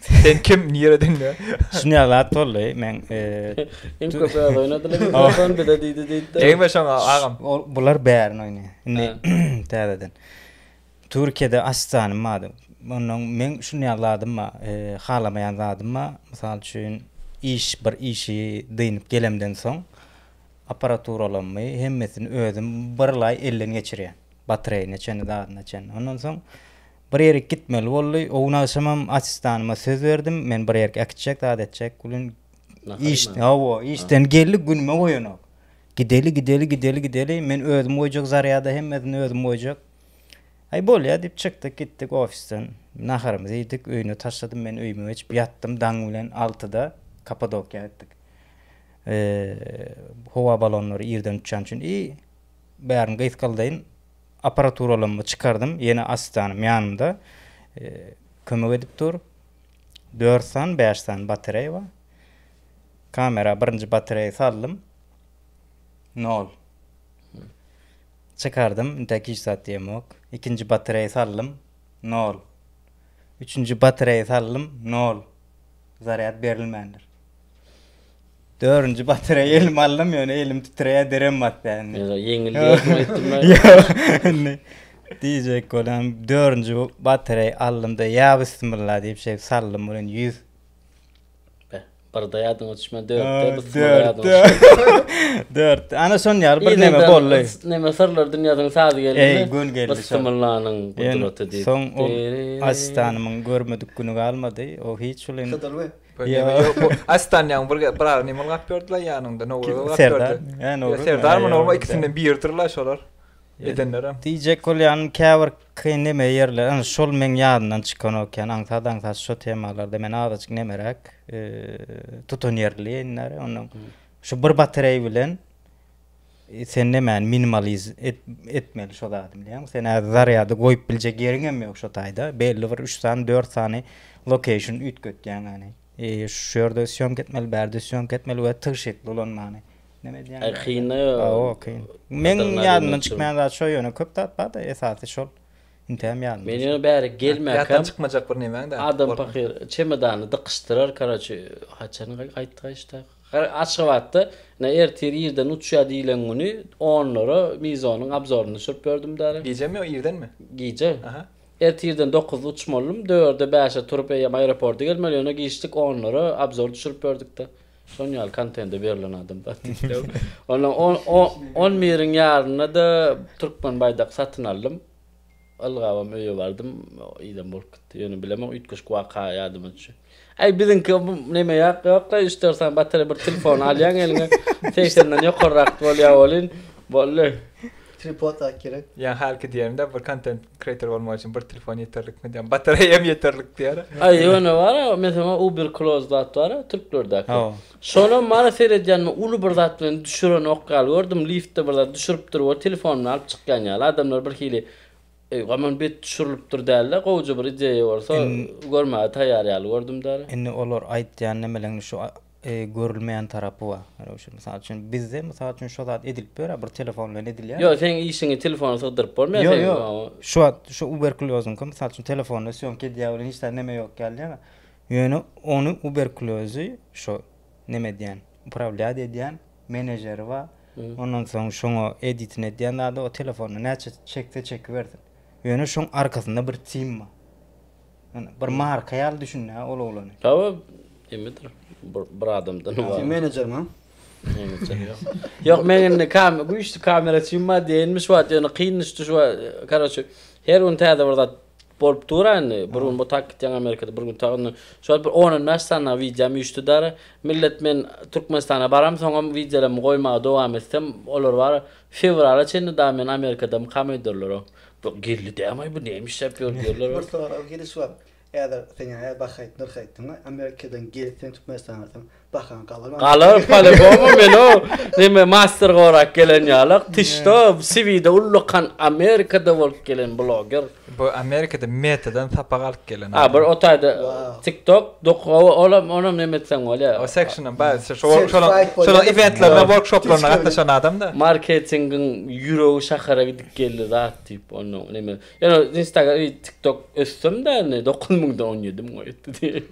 Sen kim nireden ya? Şun ya zat boldy men. Em köp öz oynadylar. Ondan bir de diydi diydi. Ey be şoňa agam. Bular bärin oyny. Indi täzeden. Türkiýede asjanym bady. Ondan men şun ya zadym ba, halamayan zadym ba. Mysal üçin iş bir işi dynyp gelemden soň apparaturalarmy hemmesini özüm bir lay elden geçirýän. Batreýine çenli zadyna çenli. Ondan soň Bir ýerik gitmeli boldy. O gün agşamam assistanyma söz berdim. Men bir ýerik äkitjek, zat etjek. Bu gün iş, hawa, işden geldi, günüme goýanok. Gideli, gideli, gideli, gideli. Men özüm goýjak zarýada hemmesini özüm goýjak. Aý bolýar diýip çykdyk, gitdik ofisden. Naharymyzy iýdik, öýüne taşladym. Men öýüme geçip ýatdym. Daň bilen altyda Kappadokiýa gitdik. Howa balonlary irden uçýan üçin i bärini gysgaldaýyn. Apparaturalamy çykardym, ýene asistanym ýanymda kömek edip dur. Dört san, bäş san batareýa bar. Kamera birinji batareýa saldym. Nol. Çykardym, indi hiç zat diýem ýok. Ikinji batareýa saldym. Nol. Üçünji batareýa saldym. Nol. Zarýad berilmändir. Dördünji batyra elime aldym, ýöne elim titreýär, derem basýar indi. Ýa-da ýeňilýärdiň aýtdym-aý. Ýok, indi diýjek bolam, dördünji batyra aldym-da, ýa bismilla diýip şeýdip saldym, ol indi ýüz. Be, birde ýadyňa düşmän, dörtde bismilla ýadyňa düşer. Dörtde, ana şonuň ýaly bir neme boldy. Neme syrlar dünýäsiniň sazy geldimi? Eý, gün geldi. Bismillanyň gudraty diýip. Soň o asistanymyň görmedik güni galmady, o hiç ol indi. Astanýaň bir bir ara nima gap berdiler ýanyňda Nowruz gap berdi. Hä Nowruz. Serdar mı Nowruz ikisinden biridir la şolar. Edenlerem. Diýjek bolýan käbir kyn neme ýerler. Ana şol meň ýadymdan çykan okan aňsat aňsat şu temalarda men azajyk nemeräk tutan ýerli ýeňler. Ondan şu bir batareý bilen Sen nemäni minimaliz et, etmeli şo zady bilýäňmi? Sen äz zarýady goýup biljek ýeriň hem ýok şo taýda. Belli bir 3 sany, 4 sany location üýtgetýäň ýani. E, şu ýerde syýomka etmeli, bärde syýomka etmeli we tygşytly ulanmaly. Neme diýýän? E, kyn da. Awa, kyn. Men ýadymdan çykmaýan zat şo ýöne köp zat bar-da, esasy şol. Intäm ýadymda. Men ýöne bäri gelmäkem. Ýatdan çykmajak bir nemäň-dä. Adam pahyr çemodany dykyşdyrar, karaçi, haçan gaýtdy gaýyşdak. Her Aşgabatda ine ertir irden uçýar diýilen güni onlara Mizonyň abzoryny düşürip berdim däli. Gijemi ýa irdenmi? Gije. Aha. Ertirden dokuzda uçmalydym, dörde bäşe turup eýýäm aeroporta gelmeli, ýöne giçdik onlara abzor düşürip berdikde. Şon ýaly kontende berlen adam zat diýdi. Ondan on on biriň ýarynda-da türkmen baýdak satyn aldym. Ylgabam öýe bardym, idem bolup gitdi. Ýöne bilemok, üýtgeşik waka ýadyma düşdi. Äý, biziňki bu neme ýak, ýok-la, üç, dört sany batareý bir telefony alýaň eliňe, segsenden ýokarrak bolýar welin, boldy. Tripod ak gerek. Ýa hälki diýerin-dä, bir kontent kreýtor bolmak üçin bir telefon ýeterlikmi diýen, batareýam ýeterlik diýer. Aý, ýöne bar-a, meselem, uber close zat bar-a, türklerdäki. Hawa. Şonam bana seredýänime uly bir zat bilen düşürenok ýaly gördüm, liftde bir zat düşüripdir we telefonuny alyp çykýan ýaly. Adamlar birhili eý aman bet düşürilipdir dälde, gowja bir ideýa bolsa görmäge taýýar ýaly gördüm däli. Indi olar aýtýan nemeleňde şu görülmeýän tarapy bar. Ýöne şu mysal üçin bizde mysal üçin şo zat edilip ýör-ä bir telefon bilen edilýär. Ýok seň işiňi telefona sygdyryp bolmaýar seň. Ýok ýok. Şu wagt şu uberkulýozyňky mysal üçin telefonda sýomka edýär welin hiç zat neme ýok ýaly ýa-da Ýöne ony uberkulözi şo neme edýän, uprawlýat edýän menejeri bar. Ondan soň şoňa editin edýän zady o telefona näçe çekse çekibersin. Ýöne şoň arkasynda bir tim bar. Ýöne bir marka ýaly düşünýär ol oglany. Tabip kimidir bir adamdan ybarat. Tim menejeriňa. Ýok men indi kam güýçli kamera üçin bar diýenmiş wagt ýöne kyn düşdi şu karoçe her gün täze bir zat bolup dur indi bir gün bu tak gitýän Amerikada bir gün tak indi şu wagt bir on bäş sany wideom üýşdi dara millet men Türkmenistana baram soňam wideolarymy goýmaga dowam etsem olar bar fewrala çenli da men Amerikada mukam öýdürler o geldi dämaý bu näme işläp ýör diýerler. Bir sorag geliş bar. Häzir sen ýa her baha aýt nyrh aýt diňe Amerikadan gelip sen Türkmenistana barsaň bahaň galar maňa. Galar palibomu men o neme master gorap gelen ýalak tyşda siwide ullakan Amerikada bolup gelen bloger. Bu Amerikada metadan sapak alyp gelen adam. A bir otaýda tik tok dok ow olam onam neme etseň bolýa. O sekşinden baý şo şol şolaň eventlerine workshoplaryna gatnaşan adam da. Marketingiň ýüregi şahara gidip geldi zat diýip ondan neme Ýöne Instagram we TikTok ösdüm-de indi dokuz müňde on ýedi müň öýtdi.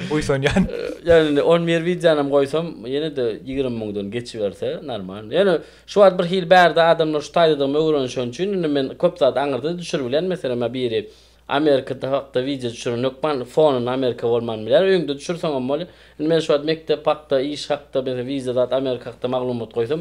Buýsanýan. Ýöne indi on bir wideonam goýsam ýene-de ýigrimi müňden geçiberse normal. Ýöne şu wagt bir hili bärde adamlar şu taýdadygymy öwrenişen üçin indi men köp zat aňyrda-da düşürip bilýän. Meselem ýa biri Amerikada hakda wideo düşüren hökman fonunda Amerika bolman bilýär. Öýüňde düşürseňem bolýar. Indi men şu wagt mekdep hakda, iş hakda, meselem wiza zat Amerika hakda maglumat goýsam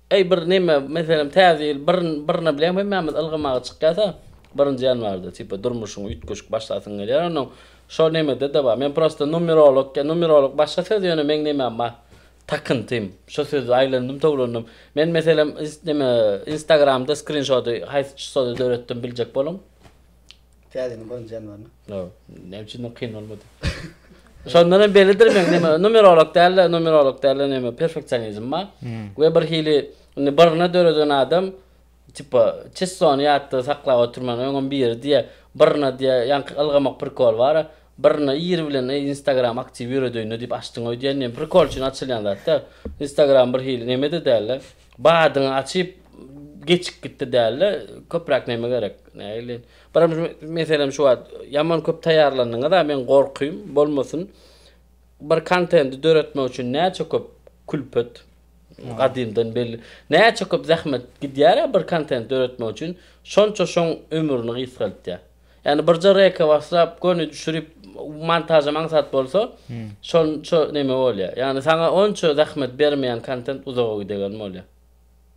Eý bir neme meselem täze ýyl bir birine bileýin hemmämiz ylgamaga çykýasa birinji ýanwarda tipa durmuşyň üýtgeşik başlasyň gelýär onuň şo nemede de bar men prosta numerolog ýa numerolog başga söz ýöne meň nemem bar takyntym şo sözi aýlandym towlandym men meselem neme instagramda skrinşody haýsy çysoda döretdim biljek boluň. Täzeden gören janawaryny. No, näme üçin kyn bolmady? Şondan hem bellidir men näme numerolog däl-de, numerolog däl-de näme perfeksionizm bar. We bir hili indi birini döreden adam tipa çistony ýatda saklap oturman öňem biri diýe, birine diýe ýaňky ylgamak prikol bar-a, birine ir bilen eý instagram aktiw ýöredeýin-le diýip açdyň-oý diýen näme prikol üçin açylýan zat-da. Instagram bir hili näme-de däl-de. Badyňy açyp geçip gitdi dälde köpräk neme gerek nägile biram meselem şu wagt ýaman köp taýýarlandyňyza men gorkym bolmasyn bir kontendi döretmek üçin näçe köp külpet gadymdan belli näçe köp zähmet gidýärä bir kontent döretmek üçin şonça şoň ömrüni gysgaltýa. Ýagny birje reka baslap göni düşürip montažam aňsat bolsa şonça neme bolýar. Ýagny saňa onça zähmet bermeýän kontent uzaga gidegen bolýar.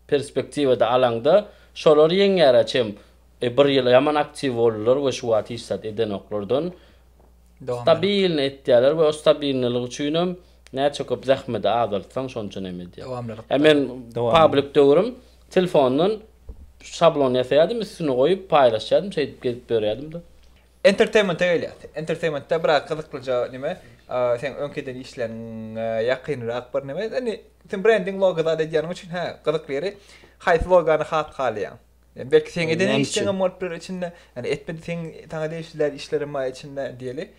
Perspektiwada alaňda şolar ýeňýär a çem bir ýyl ýaman aktiw boldylar we şu wagt hiç zat edenoklardan stabilno etýärler we o stabilnolyk üçinem näçe köp zähmedi azaltsaň şonça neme edýär. A men pablik döwrüm telfondan Şablon ýasaýardym üstüne goýup paýlaşýardym şeýdip gezip ýörýärdim-de. Entertainment-e gelýäs. Entertainment-de biraz gyzyklyja neme seň öňki eden işleriňe ýakynrak bir neme. Indi sen brending logo zat edýäniň üçin hä gyzykly ýeri haýsy logany has halaýaň? Ýani belki seň eden işleň hem bolup biler içinde. Ýani etmedi seň saňa degişli däl işlerem bar içinde diýeli.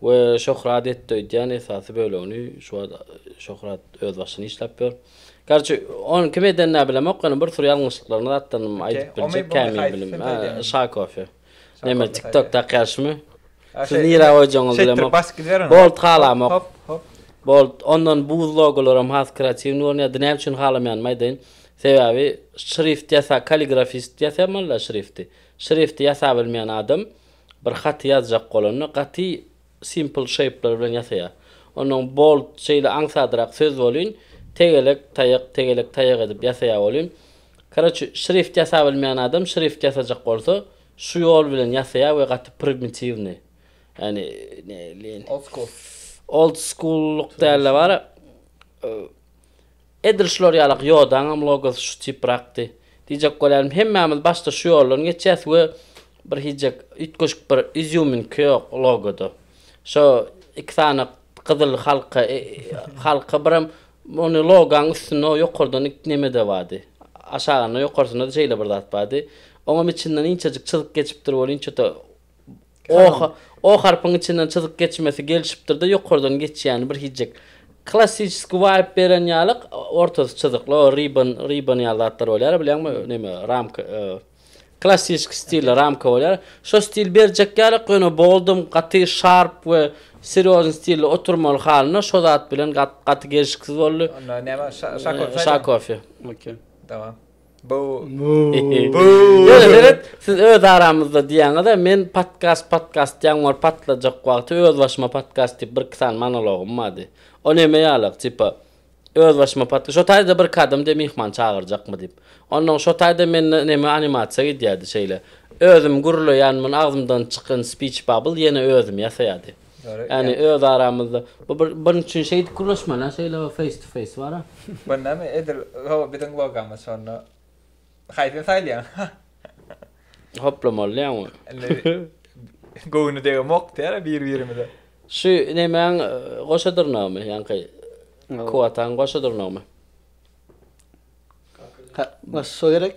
We şöhrat etdi öýdýän esasy bölegini şu wagt şöhrat öz başyny işläp ýör. Garçy ony kim edenini-ä bilemok ýöne bir sürü ýalňyşlyklaryny zatdanam aýdyp biljek kämil bilim. Şa kofe. Neme tiktok takýarşymy? Siz nirä goýjagyňyzy bilemok. Bolt halamok. Bolt ondan buz logolaram has kreatiwny görünýär. Dine näme üçin halamaýanymy aýdaýyn. Sebäbi şrift ýasa kaligrafist ýasaýan bolýa şrifti. Şrifti ýasabilmeýän adam Bir haty ýazjak bolanda gaty simple şeýpler bilen ýasaýar. Onnoň bold şeýle aňsadrak söz bolýn, tegelek taýak, tegelek taýak edip ýasaýar bolýn. Karoçi şrift ýasabilmeýän adam şrift ýasajak bolsa şu ýol bilen ýasaýar we gaty primitiwnyý. Ýani näleýin. Old school. Old school-luk dälde bara. Edil şular ýaly Gýodaňam logosy şu tiprakdy. Diýjek bolýarym, hemmämiz başda şu ýoldan geçýäs we bir hiýjek üýtgeşik bir izýuminka ýok logoda. Şo iki sany gyzyl halka, halka birem ony logaň üstünde ýokardan iki neme-de bardy. Aşagynda, ýokarsynda-da şeýle bir zat bardy. Oňam içinden inçejik çyzyk geçipdir welin, çöte. O, o harpyň içinden çyzyk geçmesi gelşipdir-de, ýokardan geçýäni bir hijjik. Klassiçeski waýp beren ýaly, ortasy çyzykly, o ribbon, ribbon ýaly zatlar bolýar, bilýäňmi, neme, ramka, e, klassiçeski stilli ramka bolýar. Şo stil berjek ýaly, ýöne boldum, gaty şarp we serýozny stilli oturmaly halyna şo zat bilen gaty gelşiksiz boldy. Onda näme, şa, şakofe? Şakofe. Okey. Dawam. Bu. Bu. Ýöne siz öz aramyzda diýýäňiz-ä, men podkast, podkast diýýän bor, patlajak wagty öz başyma podkast diýip bir iki sany monologym bardy. O näme ýalyk, tipa, öz başyma podkast, şo taýda bir kadymda myhman çagyrjakmy diýip. Onnoň şo taýda mende näme animasiýa gidýärdi şeýle. Özüm gürleýänmin, agzymdan çykan speech bubble ýene özüm ýasaýardy. Yani öz aramyzda. Bu bir bir üçin şey edip gürleşmeli ha şeyle o face to face var ha. Bu ne mi? Edil o bizim logamyz şonda. Haysyn saylayan? Hoplamaly ya onu. Gövni dege mok der bir birimize. Şu ne men goşa dırnağı mı? Yani kay. Kuatan goşa dırnağı mı? Ka, goşa gerek.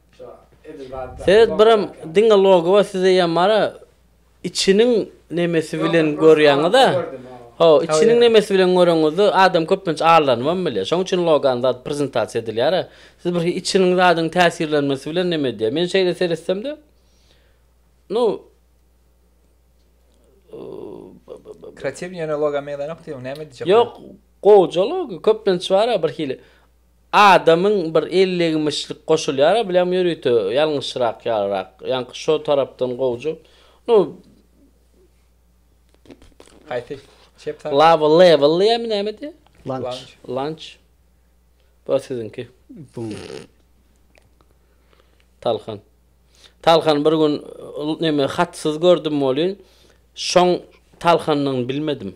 Seret biram diňe logowa size ýa mara içiniň nemesi bilen görýäňiza. Ho, içiniň nemesi bilen göreňizde adam köplenç allanybam bilýär. Şoň üçin logany zat prezentasiýa edilýär-ä. Siz bir içiniň zadyň täsirlenmesi bilen neme edýär. Men şeýle seretsemde nu Kreatiw ýöne loga meňzänokdy ýöne näme edijek. Ýok, gowja logo köplenç bar-a bir hili. Adamyň bir ellegmişlik goşulýar-a bileň ýörite ýalňyşrak ýalyrak. Ýaňky şo tarapdan gowja. Nu Haýsy? Çep tarap. Lava level diýýärmi näme diýýär? Lunch. Lunch. Bu siziňki. Bu. Talhan. Talhan bir gün neme hatsyz gördüm welin şoň Talhannyň bilmedim.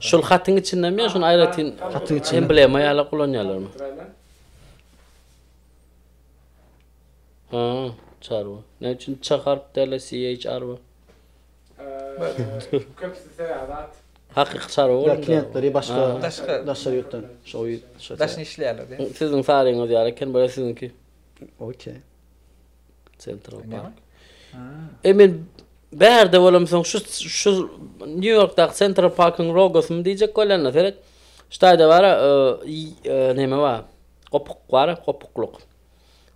Şul hatyň içinde mi şun aýratyn hatyň içinde emblema ýaly ulanýarlarmy? Ha, çar bu. Ne üçin ç harp däl CHR bu? Köpüsi seýarat. Hakyky çar bu. Klientleri başga başga daşary ýurtdan. Şo ýurt. Daşyny işleýärler. Siziň saryňyz ýaly eken, bu siziňki. Okey. Central Park. E men bärde bolam soň şu şu New Yorkdaky Central Parkyň logosyny diýjek bolanda seret. Ştaýda bar, e, e, näme bar? Gopuk bar, gopukluk.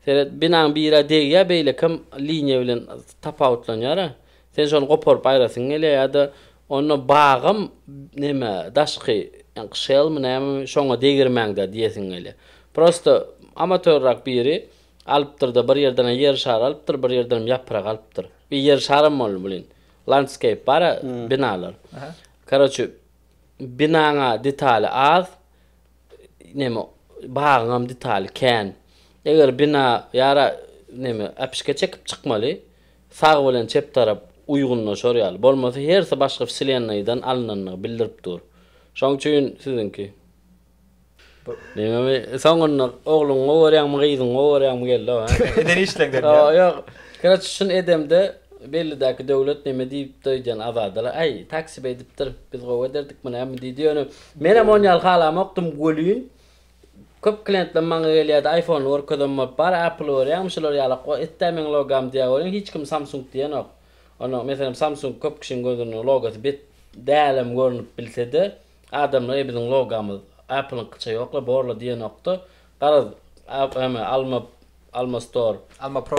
Seret, binaň biri degýär, beýlekim liniýa bilen tapawutlanýar. Sen şony goparyp aýrasyň gelýär ýa-da onda bagam näme, daşky, ýa şelmi näme, şoňa degirmäňde diýesiň gelýär. Prosta amatörrak biri Alypdyr-da, bir ýerden-ä ýer şary alypdyr, bir ýerdenem ýaprak alypdyr. Bir ýer şaram boldy bliýn. Landskeýp bar-a, binalar. Karoçi, binaň-a detaly az, neme, bagyňam detaly kän. Eger bina ýara, neme, äpişge çekip çykmaly, sag bilen çep tarap uýgunlaşar ýaly. Bolmasa hersi başga wselennaýdan alynandygy bildirip dur. Şoň üçin siziňki. Diňe soňunda ogluňy gorýäňmi gyzyňy gorýäňmi geldi o. Eden işleňden diýýä. Ýok ýok. Keraç şun edemde bellidäki döwlet neme diýipdi öýdýän Azadala äý taksip edipdir biz gowy ederdik muny ämi diýdi ýöne menem on ýaly halamokdym welin köp kliýentler maňa gelýärdi aýfony görkezem bolup bar äpl görýäňmi şular ýalak o etdä meň logam diýýä welin hiç kim samsung diýenok onda meselem samsung köp kişiň gözünde logosy bet dälem görnüp bilsede Adamlar eý biziň logamyz Appleňkyça ýokla borla diýenokda garaz ame alma alma store. Alma pro.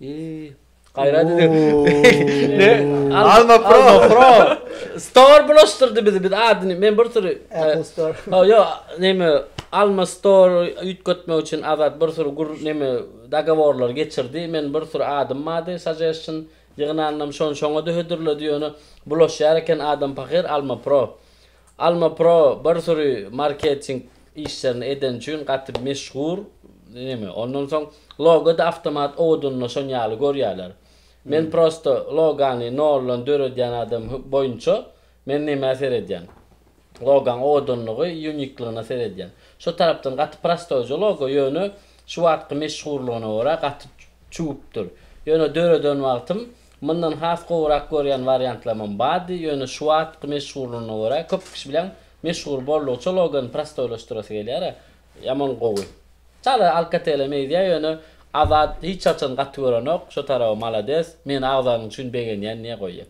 Iýy. Gaýrat edin. Alma pro. Alma pro. Store bulaşdyrdy bizi. Biz adyny men bir süri Apple e, store. Ha yo neme Alma store üýtgetmek üçin Azat bir süri gür neme dogoworlar geçirdi. Men bir süri adym bardy suggestion Ýygnanynam şony şoňa-da hödürledi ýöne bulaşýar eken adam pahyr Alma Pro. Alma Pro bir süri marketing işlerini edeni üçin gaty meşhur neme. Ondan soň logo-da awtomat owadanynda şony ýaly görýärler. Men prosta logany noldan döredýän adam boýunça men nämä seredýän. Logaň owadanlygy, uniklygyna seredýän. Şo tarapdan gaty prostoýja logo, ýöne şu wagtky meşhurlygyna görä gaty çüwüpdir. Ýöne döreden wagtym mundan has gowurak görýän wariantlamam bardy, ýöne şu wagtky meşhurlygyna görä köp kişi bilen meşhur boldugyça logony prostoýlaşdyrasy gelýär-ä. Ýaman gowy. Çala Alcatel-e meýdýär, ýöne Azat hiç haçan gaty görenok, şo taraby malades, meni agzanyň üçin begenýän diýe goýýar.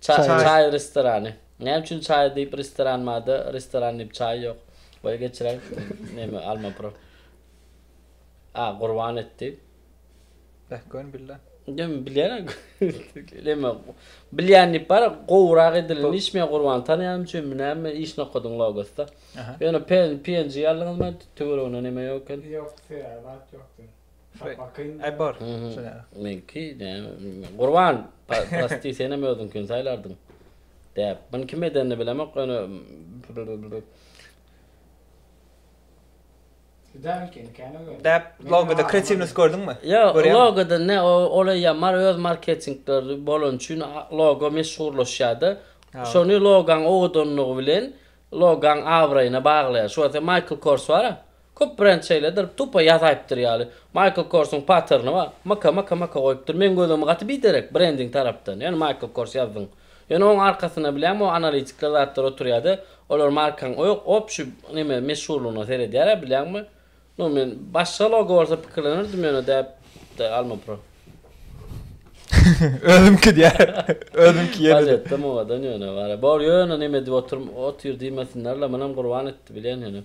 Çaý restorany. Näme üçin çaý diýip restoran barda restoran diýip çaý ýok. Goý geçiräý. Näme alma pro. A gurban etdi. Beh gön billa. Näme bilýän. Näme bilýän diýip bar gowrak edilen iş men gurban tanýan üçin mi näme iş nokadyň logosda. Ýöne PNG aldyňyzmy töwereginde näme ýok eken. Ýokdy ýa zat ýokdy. Şapakyň. Ebor. Meňki Gurban prosti senem özüňkini saýlardyň. Däp. Muny kim edenini bilemok ýöne Däp logoda kreatiwnost gördüňmi? Ýok, logoda ne olay ýamar öz marketingleri bolany üçin logo meşhurlaşýardy. Şony logaň owadanlygy bilen logaň abraýyna baglaýar. Şu wagt Michael Kors bar. Köp brend şeýledir, tupa ýasaýypdyr ýaly. Michael Korsyň patterni bar. Myka, myka, myka goýupdyr. Meň gözümi gaty biderek brending tarapdan, ýöne Michael Kors ýazdyň. Ýöne oň arkasynda bilýäňmi o analitikler zatlar oturýada, olar markaň o ýok, opşy neme meşhurlygyna seredýärä bilýäňmi. Nu men başga logo bolsa pikirlenerdim ýöne däp de Alma Pro. Özümki diýär. Özümki ýene. Bal etdim owadan ýöne. Bor ýöne neme edip otur diýmesinler la, munam gurban etdi bilýän ýöne.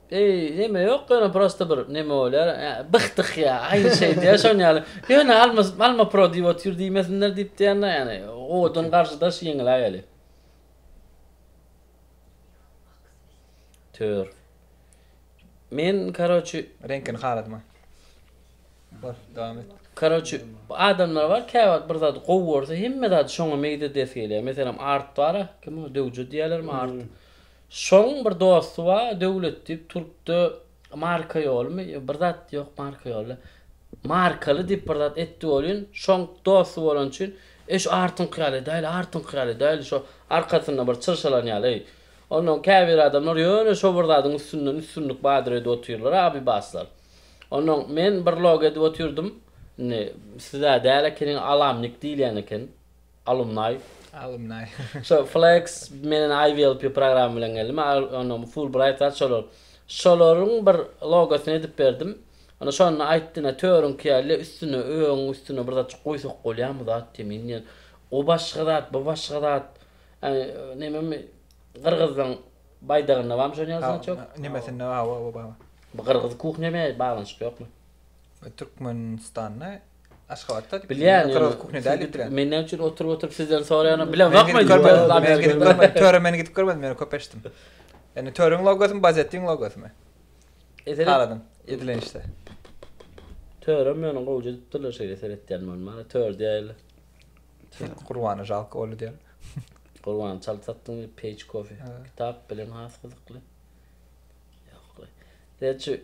Eý neme ýok ýöne prosta bir neme bolýar bych dih ýa aýry şeýdýär şon ýaly ýöne alma alma pro diýip otyr diýmesinler diýip diýýända ýani owadan garşy daş ýeňiläk heli. Tör. Men karoçi. Reňkini haladyma. Bar dowam et. Karoçi adamlar bar käwagt bir zady gowy görse hemme zady şoňa meýil edesi gelýär meselem art bara kim o döwje diýýärlermi art. Şoň bir dosty bar Döwlet diýip turupdy marka ýolymy ýa bir zat ýok marka ýoly markaly diýip bir zat etdi welin şoň dosty bolany üçin eý şu artyňky ýaly edäýli artyňky ýaly edäýli şo arkasynda bir çyrşalan ýaly eý onnoň käbir adamlar ýöne şo bir zadyň üstünden üstünlik badyr edip otyrlar abybaslar onnoň men bir logo edip otyrdym indi sizä däl ekeni alamnik diýilýän eken. Alumnaý. Alumnaý. Şo Flex menen IVLP programma bilen geldim. Ony Fulbright zat şolar. Şolaryň bir logosyny edip berdim. Onda şonda aýtdy ine törüňki ýaly üstüne öň üstüne bir zatjyk goýsak bolýamy zat diýen. Men diýen o başga zat bu başga zat. Ýani nememi gyrgyzlaň baýdagynda barmy şonuň ýalysyny aýtýok. Nemesinde hawa hawa bar. Bu gyrgyz kuhnya bilen baglanşyk ýokmy? Türkmenistanda Aşgabatda diýip. Bilýän ýaly kuhne däl diýip bilýän. Men näme üçin oturyp oturyp sizden soraýanam bilen bakmaýyn. Men gidip görmedim. Töre men gidip görmedim ýöne köp eşitdim. Ýani töreň logosymy bazettiň logosymy? Eser Haladyň edilen işte. Törem ýöne gowja edipdirler şeýle seretýän men maňa tör diýäýle. Gurbana jalka boldy diýen. Gurban çal satdyň diýip peýç kofe. Kitap bilen has gyzykly. Ýok. Gerçi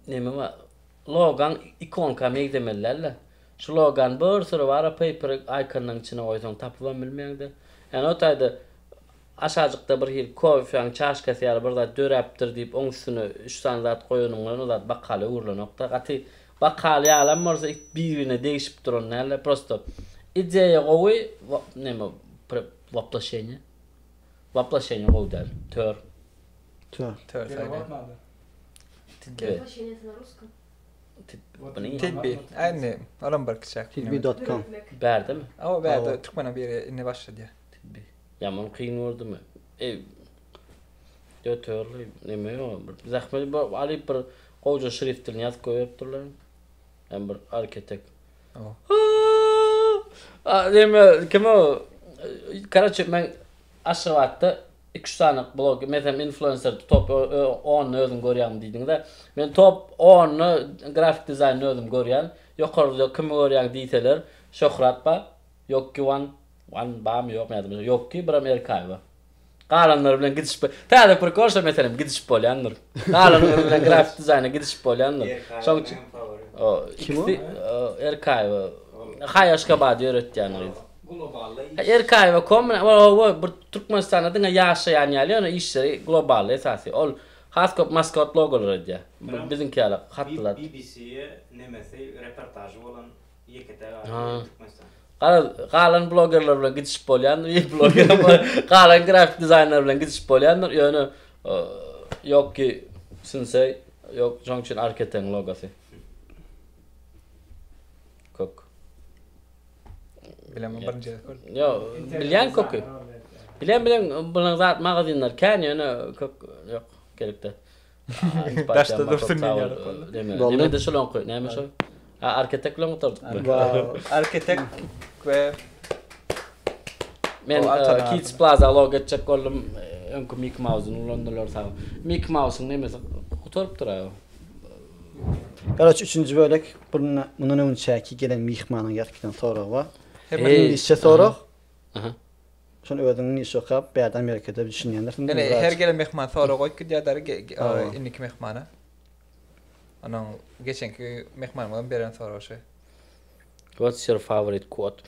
neme bar? Logan ikonka meňzemeli dälde. Şu logan bir syry bara paper ikonlaň içine goýsaň tapybam bilmeýäňda. Ýani o taýda aşajykda bir hil kofeň çaşkasy ýaly bir zat döräpdir diýip oň üstüne üç sany zat goýanyň bilen o zat bakala öwrülenokda. Gaty bakal ýalam bolsa it bir-birine degişip duran dälde. Prosto ideýa gowy neme woploşenýe woploşenýe gowy däl. Tör. Tör. Tör saýlaýyn. Tibbi. Äni, olam bir kiçäk. Tibbi.com. Bärdemi? Awa bärde türkmene biri indi başladýa. Tibbi. Ýaman kyn boldumy? Eý. Döterli neme ýa bir zähmet alyp bir gowja şrift dilini ýazyp goýberipdirler. Ýa bir arketek. Deme, kim o? Karaçe, men Aşgabatda iki üç sany blog, men hem influencer top 10 özüm görýäňmi diýdiňiz-ä. Men top 10 ny grafik dizaýny özüm görýän. Ýokarda kimi görýäň diýseler, Şöhrat bar, Ýokki Wan, Wan barmy ýokmy ýadymda, Ýokki, birem Erkaýewa. Galanlary bilen gidişip bol. Täze prikol şo meselem gidişip bolýandyr. Galanlary bilen grafik dizaýna gidişip bolýandyr. Şoň üçin o ikisi Erkaýewa Haýaşkabady ýöretýän o. Erkaýewa kom o bir Türkmenistanda diňe ýaşaýan ýaly, ýöne işleri globally esasy. Ol has köp maskot logolary edýär. Biziňki ýaly hatlylar. BBC-e nemesi reportažy bolan Garaz, galan blogerler bilen gidişip bolýandyr, ýe bloger bilen, galan grafik dizaýner bilen gidişip bolýandyr, ýöne ýok ki, sinse, ýok, şoň üçin Arketeň logosy. Kök. Bilemem birinji gezek gördüm. Ýo, bilýän köki. Bilen bilen bilen zat magazinler kän ýöne kök ýok gerekde. Daşda dursun diýen ýaly boldy. Näme-de şol oňky, näme şol? A arkitekt bilen gutardykmy? Arkitekt we Men Kids Plaza log geçjek boldum. Öňki Mickey Mouse-ny ulandylar sag. Mickey Mouse-yň nemesi gutarypdyr a. Garaç üçünji bölek, bunda mundan öňçäki gelen myhmanyň ýatkydan soragy bar. Hem iňlisçe sorag. Aha. Şony özüň iş okap bärde Amerikada düşünýändirsiň. Ine her gelen myhman sorag goýup gidýär däri indiki myhmana. Onuň geçenki myhmanymyzyň beren soragy şeý. What's your favorite quote?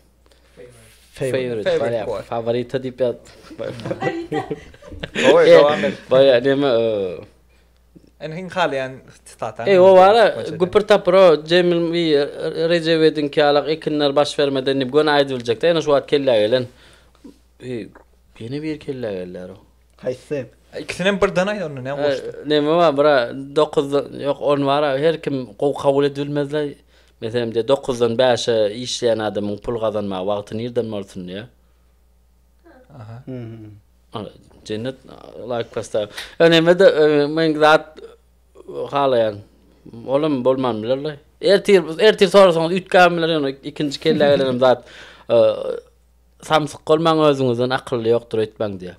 Favorite. Favorite. Favorite. Favorite diýip ýaz. Favorite. Gowy, dowam et. Baýa näme? Ene hiň halaýan sitata. Eý o bara güpür tapyr o Jemil we Rejebediňki ýalak ekinler baş bermeden diýip göni aýdyp biljek de ene şu wagt kellä gelen ýene biri kellä gelýär o. Haýsy? Ikisinem birden aýt onda ne goşdy. Neme bar bra dokuzdan ýok ony bara her kim gowy kabul edip bilmezle meselem diýe dokuzdan bäşe işleýän adamyň pul gazanmaga wagty nirden bolsun diýe. Aha. Cennet like pasta. Öneme de men zat halayan. Olam bolman bilerler. Ertir ertir sorasaňyz üýtgän bilen ýöne ikinji kelle gelenem zat. Samsyk bolmaň özüňizden akylly ýokdur öýtmäň diýýär.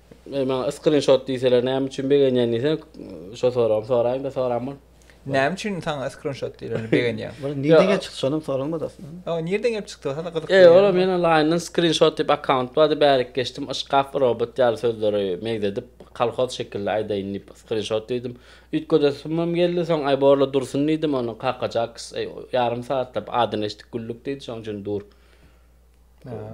Eý maňa yskryn şot diýseler näme üçin begenýän diýse şo soragym soraýyňda soran bol. Näme üçin saňa yskryn şot diýileni begenýäň. Bul nirden gelip çykdy şonam soralmady aslynda. Hawa nirden gelip çykdy hasam gyzykly. Eý ola men onlaýyndan skrin şot diýip akkaunt bardy bärik geçdim yşkaf robot ýaly sözleri megzedip kolhoz şekilli aýdaýyn diýip skrin şot diýdim üýt gödesimem geldi soň aý borla dursun diýdim ony kaka jaks eý ýarym saatlap adyny eşitdik güldük diýdi şoň üçin dur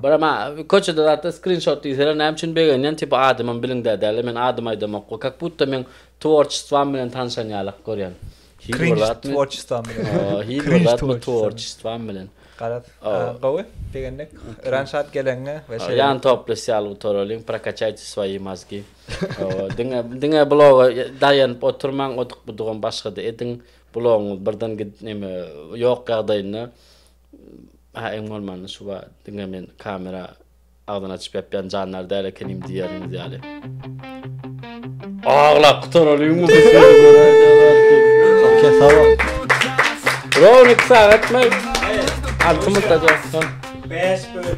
Bro ma köçede zatda skrinşot diýseler näme üçin begenýän tipa adymym biliňde däl men adym aýdamokgo kak butta meň tworçestwam bilen tanşan ýalak görýän hiç bir zat tworçestwam bilen hiç bir zat tworçestwam bilen garaz gowy begendik öran şat geleňe we şeýle ýan toply syýal utorolyň prokachayte swoýi mazgi diňe diňe bloga daýanyp oturmaň odyk budugam başgada ediň blogyňyz birden git neme ýok ýagdaýynda Hä iň bolmanda şu bar diňe men kamera agzyny açyp ýapýan jandar däl ekenim diýýäniňiz ýaly. Aglap gutaralyňmy bu sözi göräýseler. Kesaba. Browni iki sagat mı? Altı mı da Beş bölüm.